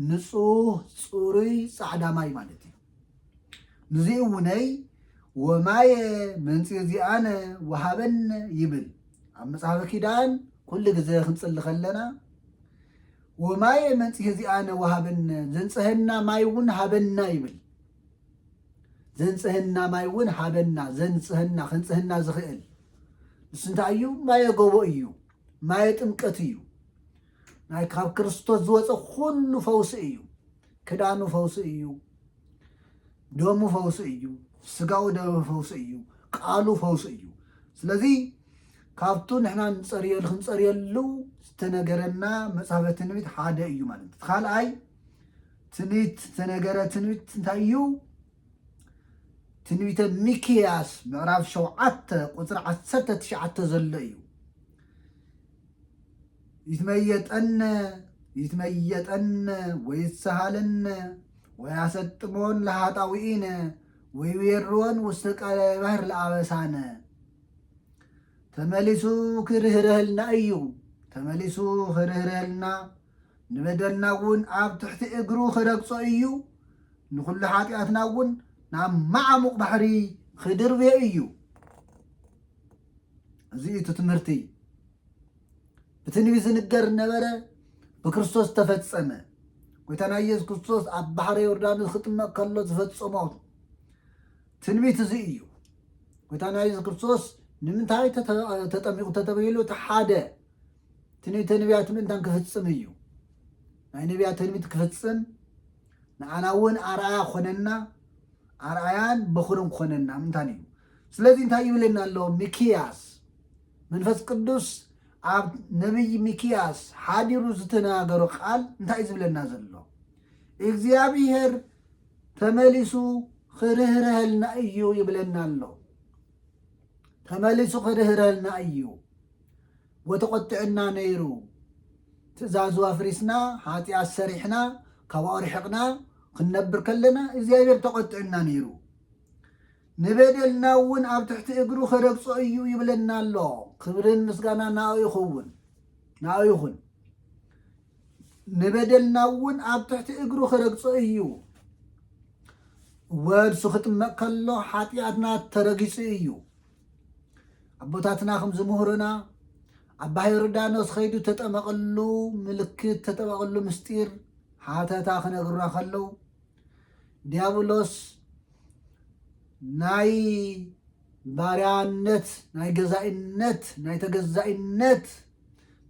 ንጹህ ጽሩይ ጻዕዳ ማይ ማለት እዩ። ንዚ እውነይ ወማየ መንጽር ዚኣነ ወሃበነ ይብል ኣብ መጽሓፈ ኪዳን ኩሉ ግዘ ክንጽሊ ከለና ወማየ መንጽሄ ዚኣነ ወሃበነ ዘንጽሀና ማይ እውን ሃበና ይብል ዘንጽህና ማይ እውን ሃበና ዘንጽህና ከንጽህና ዝኽእል ንሱ እንታይ እዩ ማየ ጎቦ እዩ ማየ ጥምቀት እዩ ናይ ካብ ክርስቶስ ዝወፀ ኩሉ ፈውሲ እዩ ክዳኑ ፈውሲ እዩ ደሙ ፈውሲ እዩ ስጋው ደሙ ፈውሲ እዩ ቃሉ ፈውሲ እዩ ስለዚ ካብቱ ንሕና ንፀርየሉ ክንፀርየሉ ዝተነገረና መፅሃፈ ትንቢት ሓደ እዩ ማለት እዩ ካልኣይ ትንቢት ዝተነገረ ትንቢት እንታይ እዩ? ትንቢተ ሚክያስ ምዕራፍ ሸውዓተ ቁፅሪ ዓሰርተ ትሽዓተ ዘሎ እዩ። ይትመየጠነ ይትመየጠነ ወይሰሃለነ ወያሰጥሞን ለሃጣውኢነ ወይዌሮን ውስተ ቀለ ባህር ለአበሳነ ተመሊሱ ክርህረህልና እዩ። ተመሊሱ ክርህረህልና ንበደልና እውን ኣብ ትሕቲ እግሩ ኺረግጾ እዩ፣ ንዅሉ ሓጢኣትና እውን ናብ መዓሙቕ ባሕሪ ኺድርብዮ እዩ። እዚ እዩ እቲ ትምህርቲ። ብትንቢት ዝንገር ነበረ፣ ብክርስቶስ ተፈጸመ። ጐይታና ኢየሱስ ክርስቶስ ኣብ ባሕሪ ዮርዳኖስ ክጥመቕ ከሎ ዝፈጸሞ ትንቢት እዚ እዩ። ጐይታና ኢየሱስ ክርስቶስ ንምንታይ ተጠሚቑ ተተብሂሉ እቲ ሓደ ትንቢተ ነቢያት ምእንታን ክፍጽም እዩ። ናይ ነቢያት ትንቢት ክፍጽም ንዓና እውን ኣርኣያ ኮነና ኣርኣያን በኹርን ኮነና ምእንታን እዩ። ስለዚ እንታይ ይብለና ኣሎ ሚክያስ መንፈስ ቅዱስ ኣብ ነቢይ ሚክያስ ሓዲሩ ዝተነጋገሮ ቃል እንታይ እዩ ዝብለና ዘሎ እግዚኣብሄር ተመሊሱ ክርህርሀልና እዩ ይብለና ኣሎ ተመሊሱ ክርህርሀልና እዩ ወተቆጥዕና ነይሩ ትእዛዙ ኣፍሪስና ሓጥያት ሰሪሕና ካባኡ ርሕቅና ክንነብር ከለና እግዚኣብሔር ተቆጥዕና ነይሩ ንበደልና እውን ኣብ ትሕቲ እግሩ ክረግጾ እዩ ይብለና ኣሎ ክብርን ምስጋና ናኡ ይኸውን ናኡ ይኹን ንበደልና እውን ኣብ ትሕቲ እግሩ ክረግጾ እዩ ወድሱ ክጥመቕ ከሎ ሓጢኣትና ተረጊጹ እዩ ኣቦታትና ከም ዝምህሩና ኣባ ዮርዳኖስ ከይዱ ተጠመቐሉ ምልክት ተጠመቐሉ ምስጢር ሓተታ ክነግሩና ከለው ዲያብሎስ ናይ ባርያነት ናይ ገዛኢነት ናይ ተገዛኢነት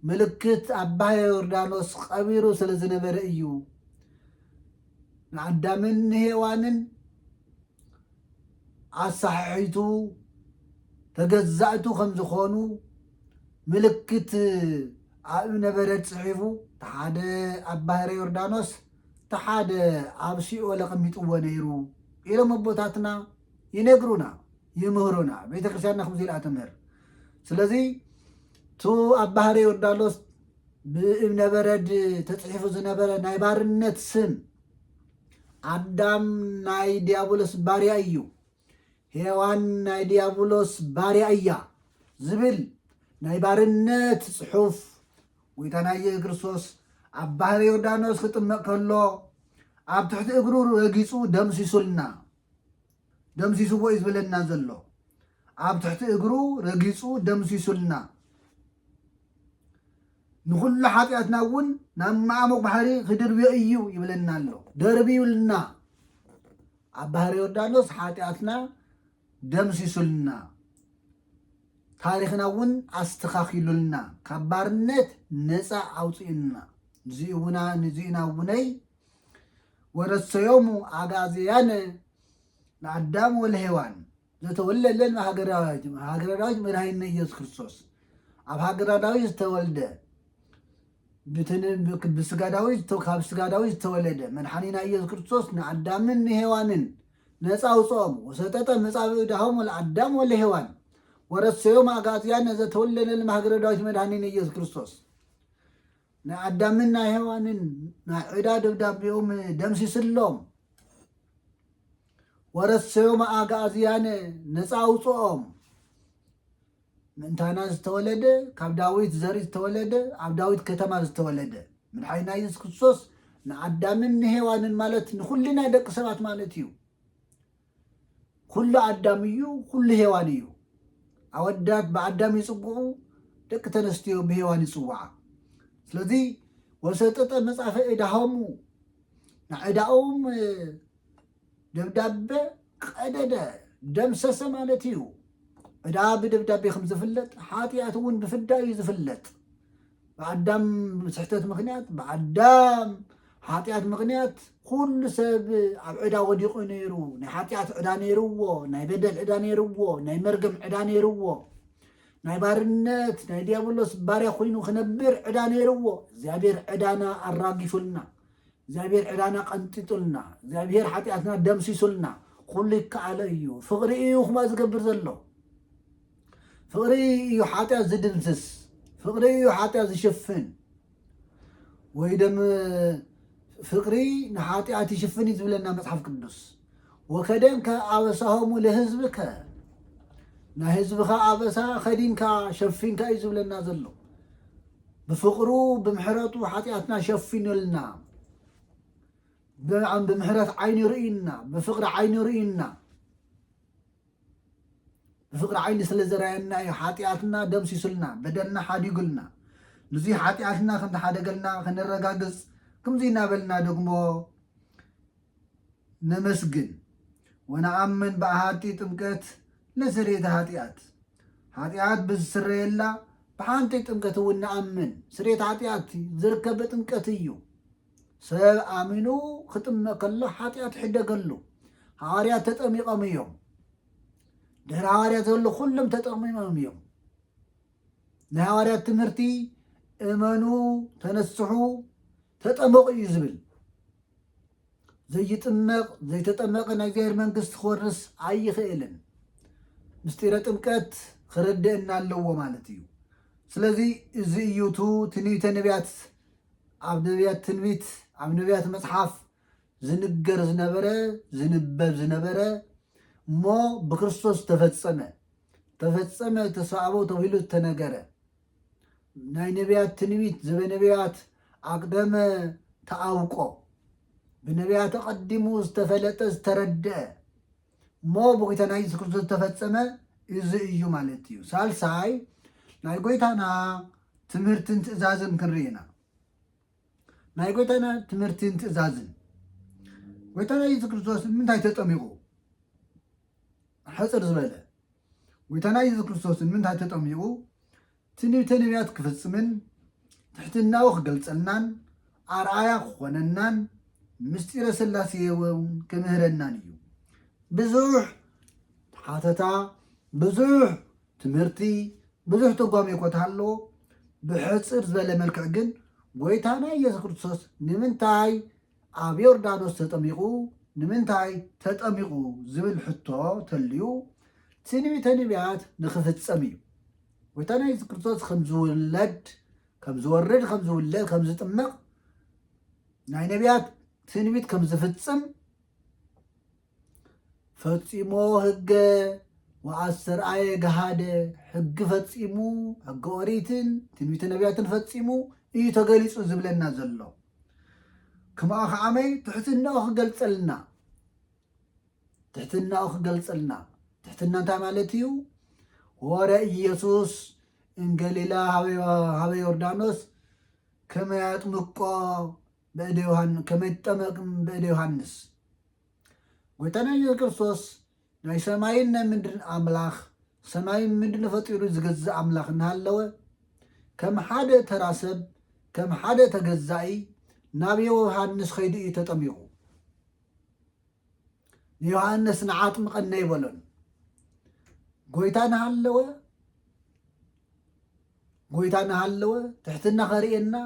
ምልክት ኣባ ዮርዳኖስ ቀቢሩ ስለ ዝነበረ እዩ ንኣዳምን ንሄዋንን ኣሳሓሒቱ ተገዛእቱ ከም ዝኾኑ ምልክት ኣብ እምነ በረድ ጽሒፉ እቲ ሓደ ኣብ ባህረ ዮርዳኖስ እቲ ሓደ ኣብ ሲኦል ኣቐሚጥዎ ነይሩ ኢሎም ኣቦታትና ይነግሩና ይምህሩና ቤተ ክርስቲያንና ከምዚ ኢላ ትምህር ስለዚ እቲ ኣብ ባህረ ዮርዳኖስ ብእምነ በረድ ተፅሒፉ ዝነበረ ናይ ባርነት ስም ኣዳም ናይ ዲያብሎስ ባርያ እዩ፣ ሄዋን ናይ ዲያብሎስ ባርያ እያ ዝብል ናይ ባርነት ጽሑፍ ጎይታና ኢየሱስ ክርስቶስ ኣብ ባህረ ዮርዳኖስ ክጥመቕ ከሎ ኣብ ትሕቲ እግሩ ረጊጹ ደምሲሱልና። ደምሲስዎ እዩ ዝብለና ዘሎ ኣብ ትሕቲ እግሩ ረጊጹ ደምሲሱልና ንኹሉ ሓጢኣትና እውን ናብ መዓሙቕ ባሕሪ ክድርብዮ እዩ ይብለና ኣሎ ደርብዩልና ኣብ ባህሪ ዮርዳኖስ ሓጢኣትና ደምሲሱልና ታሪኽና እውን ኣስተኻኪሉልና ካብ ባርነት ነፃ ኣውፅኡና ንዚኡና እውነይ ወረሰዮሙ አግኣዝያን ለአዳም ወለሔዋን ዘተወልደ ለን ሃገረ ዳዊት ሃገረ ዳዊት መድኃኒነ ኢየሱስ ክርስቶስ ኣብ ሃገረ ዳዊት ዝተወልደ ብስጋ ዳዊት ካብ ስጋ ዳዊት ዝተወለደ መድሓኒና ኢየሱስ ክርስቶስ ንኣዳምን ንሔዋንን ነፃ ውፅኦም ወሰጠጠ መጻብኡ ዳሆም ወለኣዳም ወለሔዋን ወረሰዮም አግኣዝያን ዘተወልደ ለን ሃገረ ዳዊት መድኃኒነ ኢየሱስ ክርስቶስ ናይ ኣዳምን ናይ ሔዋንን ናይ ዕዳ ደብዳቤኦም ደምሲስሎም ወረሰዮም ኣግኣዝያነ ነፃ ኣውፅኦም ምእንታና ዝተወለደ ካብ ዳዊት ዘርኢ ዝተወለደ ኣብ ዳዊት ከተማ ዝተወለደ ምድሓይና የሱስ ክርስቶስ ንኣዳምን ንሔዋንን ማለት ንኩልና ደቂ ሰባት ማለት እዩ ኹሉ ኣዳም እዩ ኹሉ ሄዋን እዩ። ኣወዳት ብኣዳም ይጽውዑ፣ ደቂ ተነስትዮ ብሄዋን ይጽውዓ። ስለዚ ወሰጠጠ መጻፈ እዳሆሙ ንዕዳኡም ደብዳበ ቀደደ ደምሰሰ ማለት እዩ። ዕዳ ብደብዳቤ ከም ዝፍለጥ ሓጢኣት እውን ብፍዳ እዩ ዝፍለጥ። ብኣዳም ስሕተት ምክንያት ብኣዳም ሓጢኣት ምክንያት ኩሉ ሰብ ኣብ ዕዳ ወዲቑ ነይሩ ናይ ሓጢኣት ዕዳ ነይርዎ ናይ በደል ዕዳ ነይርዎ ናይ መርገም ዕዳ ነይርዎ ናይ ባርነት ናይ ዲያብሎስ ባርያ ኮይኑ ክነብር ዕዳ ነይርዎ እግዚኣብሔር ዕዳና ኣራጊፉልና እግዚኣብሔር ዕዳና ቀንጢጡልና እግዚኣብሔር ሓጢኣትና ደምሲሱልና ኩሉ ይከኣለ እዩ ፍቕሪ እዩ ኩማ ዝገብር ዘሎ ፍቕሪ እዩ ሓጢኣት ዝድምስስ፣ ፍቕሪ እዩ ሓጢኣት ዝሽፍን ወይ ደም ፍቅሪ ንሓጢኣት ይሽፍን እዩ ዝብለና መፅሓፍ ቅዱስ ወከደንከ ኣበሳሆሙ ለህዝብከ ናይ ህዝብኻ ኣበሳ ከዲንካ ሸፊንካ እዩ ዝብለና ዘሎ ብፍቅሩ ብምሕረቱ ሓጢኣትና ሸፊኑልና ብምሕረት ዓይኒ ርእዩና ብፍቅሪ ዓይኒ ርእዩና ብፍቕሪ ዓይኒ ስለ ዘርኣየና እዩ ሓጥያትና ደምሲሱልና፣ በደልና ሓዲጉልና። ንዙይ ሓጥያትና ከም ዝሓደገልና ከነረጋግፅ ክምዙይ እናበልና ደግሞ ነመስግን። ወነኣምን በኣሃቲ ጥምቀት ለስርየተ ሃጥያት ሓጥያት ብዝስረየላ ብሓንቲ ጥምቀት እውን ነኣምን። ስርየት ሓጥያት ዝርከብ በጥምቀት እዩ። ሰብ ኣሚኑ ክጥመ ከሎ ሓጢኣት ይሕደገሉ ሃዋርያት ተጠሚቆም እዮም ድሕሪ ሃዋርያት ዘሎ ኩሎም ተጠሚሞም እዮም ናይ ሃዋርያት ትምህርቲ እመኑ ተነስሑ ተጠመቑ እዩ ዝብል ዘይጥመቕ ዘይተጠመቐ ናይ እግዚኣብሔር መንግስቲ ክወርስ ኣይኽእልን ምስጢረ ጥምቀት ክረድእና ኣለዎ ማለት እዩ ስለዚ እዚ እዩቱ ትንቢተ ነቢያት ኣብ ነብያት ትንቢት ኣብ ነብያት መጽሓፍ ዝንገር ዝነበረ ዝንበብ ዝነበረ እሞ ብክርስቶስ ተፈጸመ ተፈጸመ ተሳእቦ ተብሂሉ ዝተነገረ ናይ ነብያት ትንቢት ዘበነብያት ኣቅደመ ተኣውቆ ብነብያት ኣቐዲሙ ዝተፈለጠ ዝተረድአ እሞ ብጎይታና ኢየሱስ ክርስቶስ ዝተፈጸመ እዚ እዩ ማለት እዩ። ሳልሳይ ናይ ጎይታና ትምህርትን ትእዛዝን ክንርኢ ኢና። ናይ ጎይታና ትምህርትን ትእዛዝን ጎይታና ኢየሱስ ክርስቶስ ንምንታይ ተጠሚቑ? ሕፅር ዝበለ ጎይታና ኢየሱስ ክርስቶስ ንምንታይ ተጠሚቑ? ትንቢተ ነቢያት ክፍጽምን ትሕትናኡ ክገልጸልናን ኣርኣያ ክኾነናን ምስጢረ ሥላሴ እውን ክምህረናን እዩ። ብዙሕ ሓተታ፣ ብዙሕ ትምህርቲ፣ ብዙሕ ትርጓሜ እኮ ተሃሎ ብሕጽር ዝበለ መልክዕ ግን ጎይታና ኢየሱስ ክርስቶስ ንምንታይ ኣብ ዮርዳኖስ ተጠሚቑ ንምንታይ ተጠሚቑ ዝብል ሕቶ ተልዩ ትንቢተ ነቢያት ንክፍጸም እዩ። ጎይታና የሱስ ክርስቶስ ከም ዝውለድ ከም ዝወርድ ከም ዝውለድ ከም ዝጥመቕ ናይ ነቢያት ትንቢት ከም ዝፍጽም ፈጺሞ ህገ ወኣስተርኣየ ገሃደ ሕጊ ፈጺሙ ሕገ ኦሪትን ትንቢተ ነቢያትን ፈጺሙ እዩ ተገሊጹ ዝብለና ዘሎ ክምኣ ከዓመይ ትሕትናኡ ክገልጸልና ትሕትናኡ ክገልጸልና ትሕትና እንታይ ማለት እዩ ወረ ኢየሱስ እንገሊላ ሃበ ዮርዳኖስ ከመ ያጥምቆ በእደ ዮሃን ከመ ይትጠመቅም በእደ ዮሃንስ ጎይታና ኢየሱስ ክርስቶስ ናይ ሰማይን ናይ ምድርን ኣምላኽ ሰማይን ምድርን ፈጢሩ ዝገዝእ ኣምላኽ እናሃለወ ከም ሓደ ተራ ሰብ ከም ሓደ ተገዛኢ ናብ ዮሃንስ ኸይዱ እዩ ተጠሚቑ ንዮሃንስ ንዓጥምቐና ይበሎን ጎይታ ናሃለወ ጎይታ ናሃለወ ትሕትና ኸርእየና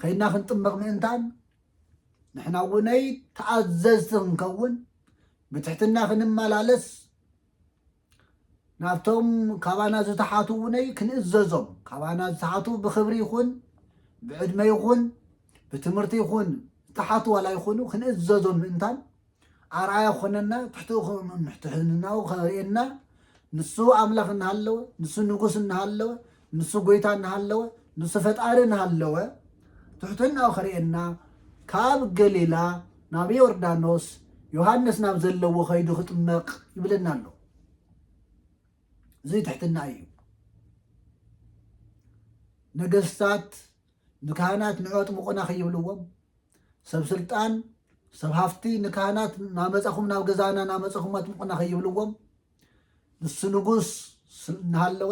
ከይና ክንጥመቕ ምእንታን ንሕና እውነይ ተኣዘዝቲ ክንከውን ብትሕትና ክንመላለስ ናብቶም ካባና ዝተሓቱ እውነይ ክንእዘዞም ካባና ዝተሓቱ ብክብሪ ይኹን ብዕድመ ይኹን ብትምህርቲ ይኹን ዝተሓቱ ዋላ ይኹኑ ክንእዘዞም ምእንታን ኣርኣያ ክኾነና ትሕትኡ ትሕትናኡ ከርእየና ንሱ ኣምላኽ እናሃለወ ንሱ ንጉስ እናሃለወ ንሱ ጎይታ እናሃለወ ንሱ ፈጣሪ እናሃለወ ትሕትናኡ ከርእየና ካብ ገሊላ ናብ ዮርዳኖስ ዮሃንስ ናብ ዘለዎ ከይዱ ክጥመቕ ይብለና ኣሎ እዚ ትሕትና እዩ ነገስታት ንካህናት ንዑ ኣጥምቑና ከይብልዎም ሰብ ስልጣን ሰብ ሃፍቲ ንካህናት ናመፃኹም ናብ ገዛና ናመፀኹም ኣጥምቑና ከይብልዎም ንሱ ንጉስ እናሃለወ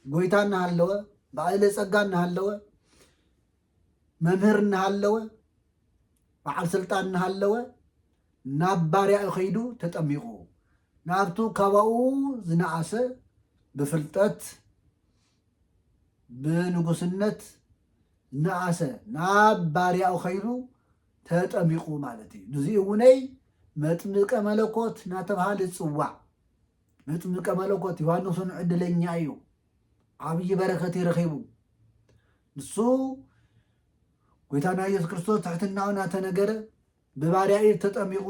ጎይታ እናሃለወ በዓለ ጸጋ እናሃለወ መምህር እናሃለወ በዓል ስልጣን እናሃለወ ናብ ባርያኡ ከይዱ ተጠሚቑ ናብቱ ካባኡ ዝነኣሰ ብፍልጠት ብንጉስነት ነኣሰ ናብ ባርያኡ ከይኑ ተጠሚቑ ማለት እዩ ንዚ እውነይ መጥምቀ መለኮት ናተብሃለ ዝፅዋዕ መጥምቀ መለኮት ዮሃንስን ዕድለኛ እዩ ዓብዪ በረከት ይረኺቡ ንሱ ጎይታና ኢየሱስ ክርስቶስ ትሕትናኡ ናተነገረ ብባርያ ኢድ ተጠሚቑ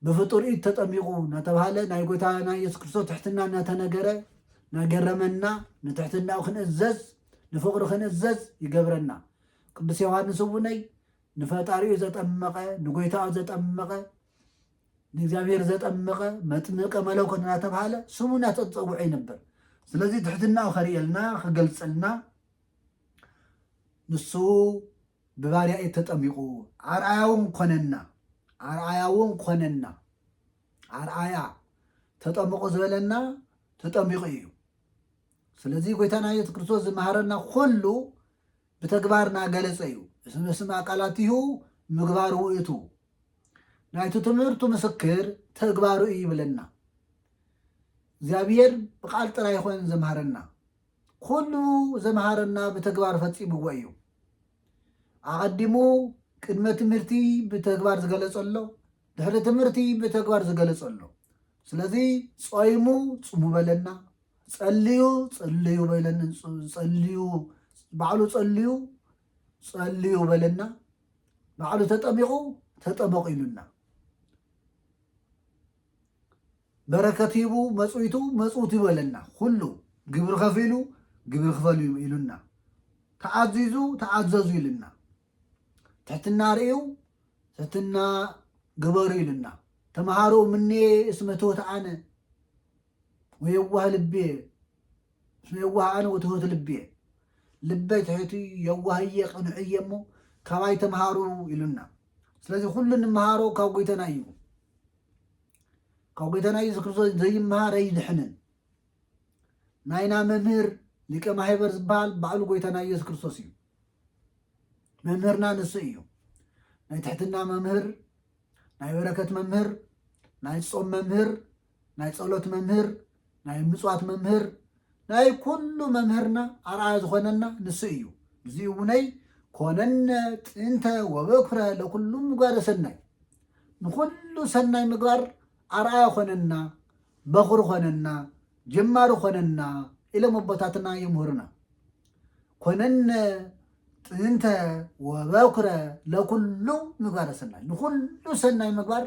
ብፍጡር ኢድ ተጠሚቑ ናተብሃለ ናይ ጎይታና ኢየሱስ ክርስቶስ ትሕትና ናተነገረ ናገረመና ንትሕትናኡ ክንእዘዝ ንፍቕሩ ክንእዘዝ ይገብረና። ቅዱስ ዮሐንስ እውነይ ንፈጣሪኡ ዘጠመቐ ንጎይታኡ ዘጠመቐ ንእግዚኣብሔር ዘጠመቐ መጥምቀ መለኮት ናተብሃለ ስሙ ናተጸውዐ ይነበር። ስለዚ ትሕትናኡ ከርእየልና ክገልጸልና ንሱ ብባርያ ኢድ ተጠሚቑ ኣርኣያውን ኰነና ኣርኣያውን ኰነና ኣርኣያ ተጠምቑ ዝበለና ተጠሚቑ እዩ ስለዚ ጐይታና ኢየሱስ ክርስቶስ ዝመሃረና ኰሉ ብተግባር ናገለጸ እዩ እስመ ስም ኣቃላቲሁ ምግባር ውእቱ ናይቲ ትምህርቱ ምስክር ተግባሩ እዩ ይብለና እግዚኣብሔር ብቃል ጥራይ ይኾን ዘምሃረና ኩሉ ዘምሃረና ብተግባር ፈፂምዎ እዩ ኣቐዲሙ ቅድመ ትምህርቲ ብተግባር ዝገለፆ ኣሎ፣ ድሕሪ ትምህርቲ ብተግባር ዝገለፆ ኣሎ። ስለዚ ጾይሙ ጽሙ በለና፣ ጸልዩ ጸልዩ በለና፣ ጸልዩ ባዕሉ ጸልዩ ጸልዩ በለና፣ ባዕሉ ተጠሚቑ ተጠመቑ ኢሉና። በረከት ሂቡ መጽዊቱ መጽውቱ ይበለና ኩሉ ግብሪ ከፊሉ ግብሪ ክፈል እዩ ኢሉና ተኣዚዙ ተኣዘዙ ኢሉና ትሕትና ርእዩ ትሕትና ግበሩ ኢሉና ተምሃሩ ምኔ እስመ ትሑት ኣነ ወየዋህ ልቤ እስመ የዋህ ኣነ ወትሑት ልቤ ልበይ ትሕቲ የዋህየ ቅኑዕየ እሞ ካባይ ተምሃሩ ኢሉና ስለዚ ኩሉ ንምሃሮ ካብ ጎይተና እዩ ካብ ጎይታና ኢየሱስ ክርስቶስ ዘይመሃር ኣይድሕንን። ናይና መምህር ሊቀ ማሕበር ዝበሃል ባዕሉ ጎይታና ኢየሱስ ክርስቶስ እዩ። መምህርና ንሱ እዩ። ናይ ትሕትና መምህር፣ ናይ በረከት መምህር፣ ናይ ጾም መምህር፣ ናይ ጸሎት መምህር፣ ናይ ምጽዋት መምህር ናይ ኩሉ መምህርና ኣርኣያ ዝኾነና ንሱ እዩ። እዚ እውነይ ኮነነ ጥንተ ወበኩረ ለኩሉ ምግባረ ሰናይ ንኹሉ ሰናይ ምግባር ኣርኣያ ኮነና፣ በኹሪ ኮነና፣ ጀማሪ ኮነና ኢሎም ኣቦታትና የምህሩና። ኮነነ ጥንተ ወበኩረ ለኩሉ ምግባረ ሰናይ ንኹሉ ሰናይ ምግባር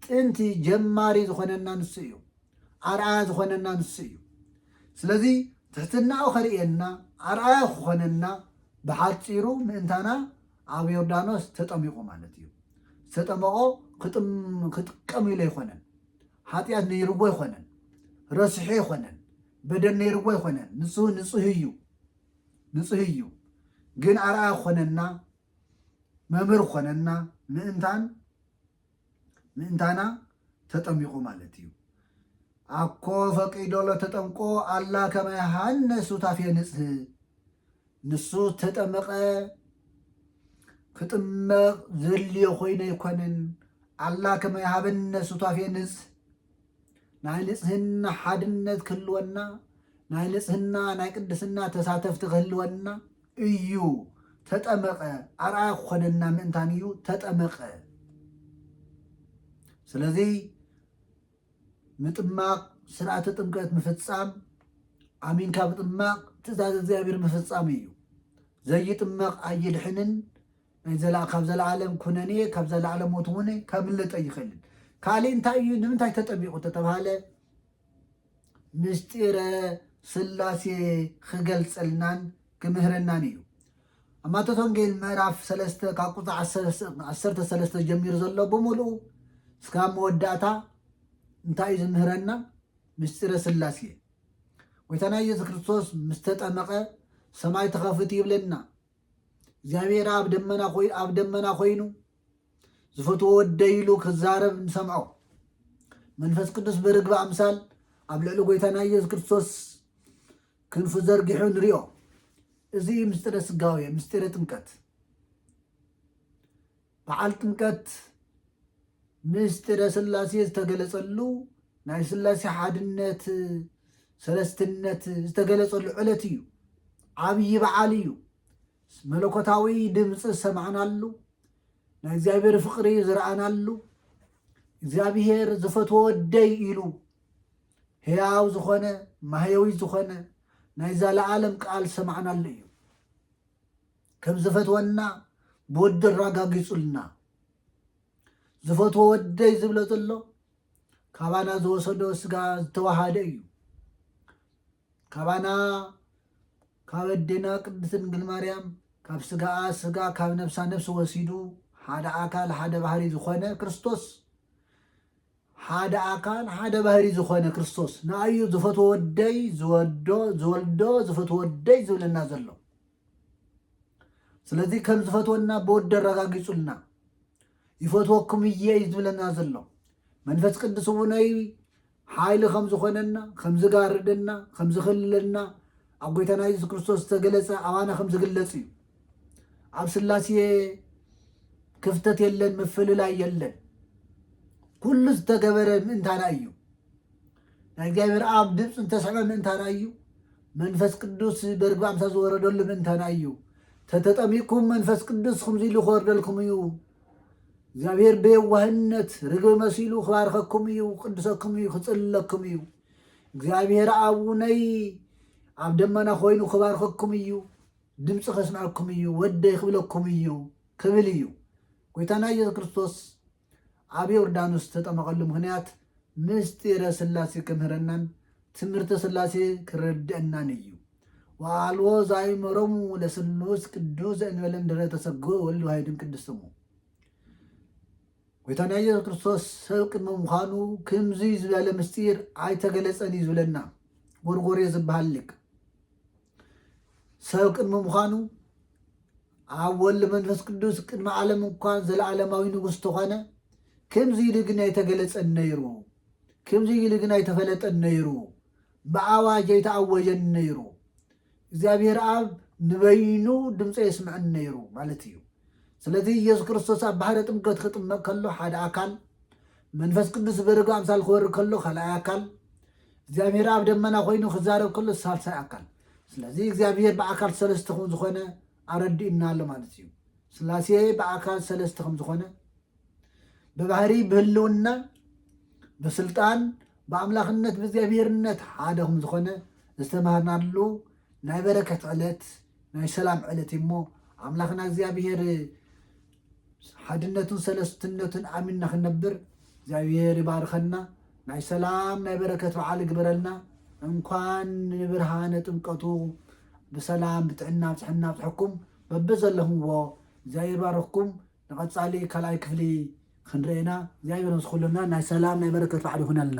ጥንቲ ጀማሪ ዝኾነና ንሱ እዩ። ኣርኣያ ዝኾነና ንሱ እዩ። ስለዚ ትሕትናኡ ከርእየና ኣርኣያ ክኾነና ብሓጺሩ ምእንታና ኣብ ዮርዳኖስ ተጠሚቑ ማለት እዩ። ዝተጠመቖ ክጥቀም ኢሉ ኣይኮነን። ሓጢኣት ነይርዎ ኣይኮነን። ረሲሑ ኣይኮነን። በደል ነይርዎ ኣይኮነን። ንሱ ንጹህ እዩ ንጹህ እዩ። ግን ኣርኣያ ክኾነና መምህር ክኾነና ምእንታን ምእንታና ተጠሚቁ ማለት እዩ። ኣኮ ፈቂዶ ለተጠምቆ ኣላ ከመ ዮሐንስ ሱታፌ ንጽህ ንሱ ዝተጠመቐ ክጥመቕ ዘድልዮ ኮይኑ ኣይኮነን። ኣላ ከመ ዮሐንስ ሱታፌ ንጽህ ናይ ንጽህና ሓድነት ክህልወና ናይ ንጽህና ናይ ቅድስና ተሳተፍቲ ክህልወና እዩ ተጠመቐ ኣርኣያ ክኾነና ምእንታን እዩ ተጠመቐ ስለዚ ምጥማቕ ስርዓተ ጥምቀት ምፍጻም ኣሚንካ ምጥማቕ ትእዛዝ እግዚኣብሔር ምፍጻም እዩ ዘይጥመቕ ኣይድሕንን ናይ ዘላ ካብ ዘለዓለም ኩነኔ ካብ ዘለዓለም ሞት እውን ከምልጥ ኣይኽእልን ካልእ እንታይ እዩ ንምንታይ ተጠሚቑ ተተባሃለ ምስጢረ ሥላሴ ኺገልጸልናን ኪምህረናን እዩ። ኣብ ማቴዎስ ወንጌል ምዕራፍ ሰለስተ ካብ ቁጽሪ ዓሰርተ ሰለስተ ጀሚሩ ዘሎ ብምሉኡ እስካብ መወዳእታ እንታይ እዩ ዝምህረና? ምስጢረ ሥላሴ እዩ። ጎይታና ኢየሱስ ክርስቶስ ምስ ተጠመቐ ሰማይ ተኸፊቱ ይብለና። እግዚኣብሔር ኣብ ደመና ኮይኑ ዝፈትዎ ወደይ ኢሉ ክዛረብ ንሰምዖ። መንፈስ ቅዱስ ብርግቢ ኣምሳል ኣብ ልዕሊ ጎይታና ኢየሱስ ክርስቶስ ክንፉ ዘርጊሑ ንሪኦ። እዚ እዩ ምስጢረ ስጋዌ፣ ምስጢረ ጥምቀት። በዓል ጥምቀት ምስጢረ ስላሴ ዝተገለጸሉ ናይ ስላሴ ሓድነት ሰለስትነት ዝተገለጸሉ ዕለት እዩ። ዓብዪ በዓል እዩ። መለኮታዊ ድምፂ ዝሰማዕናሉ፣ ናይ እግዚኣብሔር ፍቕሪ ዝረኣናሉ፣ እግዚኣብሔር ዝፈትዎ ወደይ ኢሉ ሕያው ዝኾነ ማህየዊ ዝኾነ ናይ ዘለዓለም ቃል ሰማዕናሉ እዩ ከም ዝፈትወና ብወዲ ኣራጋጊፁልና ዝፈትዎ ወደይ ዝብሎ ዘሎ ካባና ዝወሰዶ ስጋ ዝተዋሃደ እዩ ካባና ካብ ኣዴና ቅድስት ድንግል ማርያም ካብ ስጋኣ ስጋ ካብ ነብሳ ነብሲ ወሲዱ ሓደ ኣካል ሓደ ባህሪ ዝኾነ ክርስቶስ ሓደ ኣካል ሓደ ባህሪ ዝኾነ ክርስቶስ ንኣዩ ዝፈትዎ ወደይ ዝወዶ ዝወልዶ ዝፈትዎ ወደይ ዝብለና ዘሎ ስለዚ ከም ዝፈትወና ብወዲ ኣረጋጊጹልና ይፈትወኩም እየ እዩ ዝብለና ዘሎ መንፈስ ቅዱስ እውነይ ሓይሊ ከም ዝኾነና፣ ከም ዝጋርደና፣ ከም ዝኽልለና ኣብ ጎይታና የሱስ ክርስቶስ ዝተገለጸ ኣባና ከም ዝግለጽ እዩ። ኣብ ስላሴ ክፍተት የለን፣ ምፍልላይ የለን። ኩሉ ዝተገበረ ምእንታና እዩ ናይ እግዚኣብሔር ኣብ ድምፂ ዝተስዕበ ምእንታና እዩ መንፈስ ቅዱስ በርግቢ ኣምሳ ዝወረደሉ ምእንታና እዩ ተተጠሚቅኩም መንፈስ ቅዱስ ከምዚ ኢሉ ክወርደልኩም እዩ እግዚኣብሔር ብየዋህነት ርግቢ መሲሉ ክባርኸኩም እዩ፣ ክቅድሰኩም እዩ፣ ክጽልለኩም እዩ። እግዚኣብሔር ኣቡነይ ኣብ ደመና ኮይኑ ክባርኸኩም እዩ፣ ድምፂ ከስምዐኩም እዩ፣ ወደይ ክብለኩም እዩ ክብል እዩ። ጎይታና ኢየሱስ ክርስቶስ ኣብ ዮርዳኖስ ዝተጠመቐሉ ምክንያት ምስጢረ ስላሴ ክምህረናን ትምህርቲ ስላሴ ክረድአናን እዩ። ወአልቦ ዘአእመሮሙ ለስሉስ ቅዱስ ዘእንበለ እምድኅረ ተሰግወ ወልድ ዋሕድም ቅዱስ ስሙ። ጐይታና ኢየሱስ ክርስቶስ ሰብ ቅድመ ምዃኑ ክምዚ ዝበለ ምስጢር ኣይተገለጸን እዩ ዝብለና ጎርጎርዮ ዝበሃል ሊቅ ሰብ ቅድሚ ምዃኑ ኣብ ወልድ መንፈስ ቅዱስ ቅድሚ ዓለም እንኳን ዘለዓለማዊ ንጉሥ ተኾነ ከምዚ ኢሉ ግን ኣይተገለጸን ነይሩ ከምዚ ኢሉ ግን ኣይተፈለጠን ነይሩ ብኣዋጅ ኣይተኣወጀን ነይሩ። እግዚኣብሄር ኣብ ንበይኑ ድምፀ የስምዐን ነይሩ ማለት እዩ። ስለዚ ኢየሱስ ክርስቶስ ኣብ ባሕረ ጥምቀት ክጥመቕ ከሎ ሓደ ኣካል፣ መንፈስ ቅዱስ ዝበረዶ ኣምሳል ክወርድ ከሎ ካልኣይ ኣካል፣ እግዚኣብሄር ኣብ ደመና ኮይኑ ክዛረብ ከሎ ሳልሳይ ኣካል። ስለዚ እግዚኣብሄር ብኣካል ሰለስተ ከም ዝኾነ ኣረዲኡና ኣሎ ማለት እዩ። ስላሴ ብኣካል ሰለስተ ከም ዝኾነ ብባህሪ ብህልውና ብስልጣን ብኣምላኽነት ብእግዚኣብሄርነት ሓደ ከም ዝኾነ ዝተማሃርናሉ ናይ በረከት ዕለት ናይ ሰላም ዕለት እሞ ኣምላኽና እግዚኣብሄር ሓድነቱን ሰለስትነቱን ኣሚንና ክንነብር እግዚኣብሄር ይባርኸና ናይ ሰላም ናይ በረከት በዓል ይግበረልና እንኳን ንብርሃነ ጥምቀቱ ብሰላም ብጥዕና ብፅሕና ብፅሐኩም በብዘለኹምዎ እግዚኣብሄር ባረኽኩም ንቀጻሊ ካልኣይ ክፍሊ ክንርእየና እግዚኣብሔር ምስ ኩልና ናይ ሰላም ናይ በረከት በዓል ይኩነልና።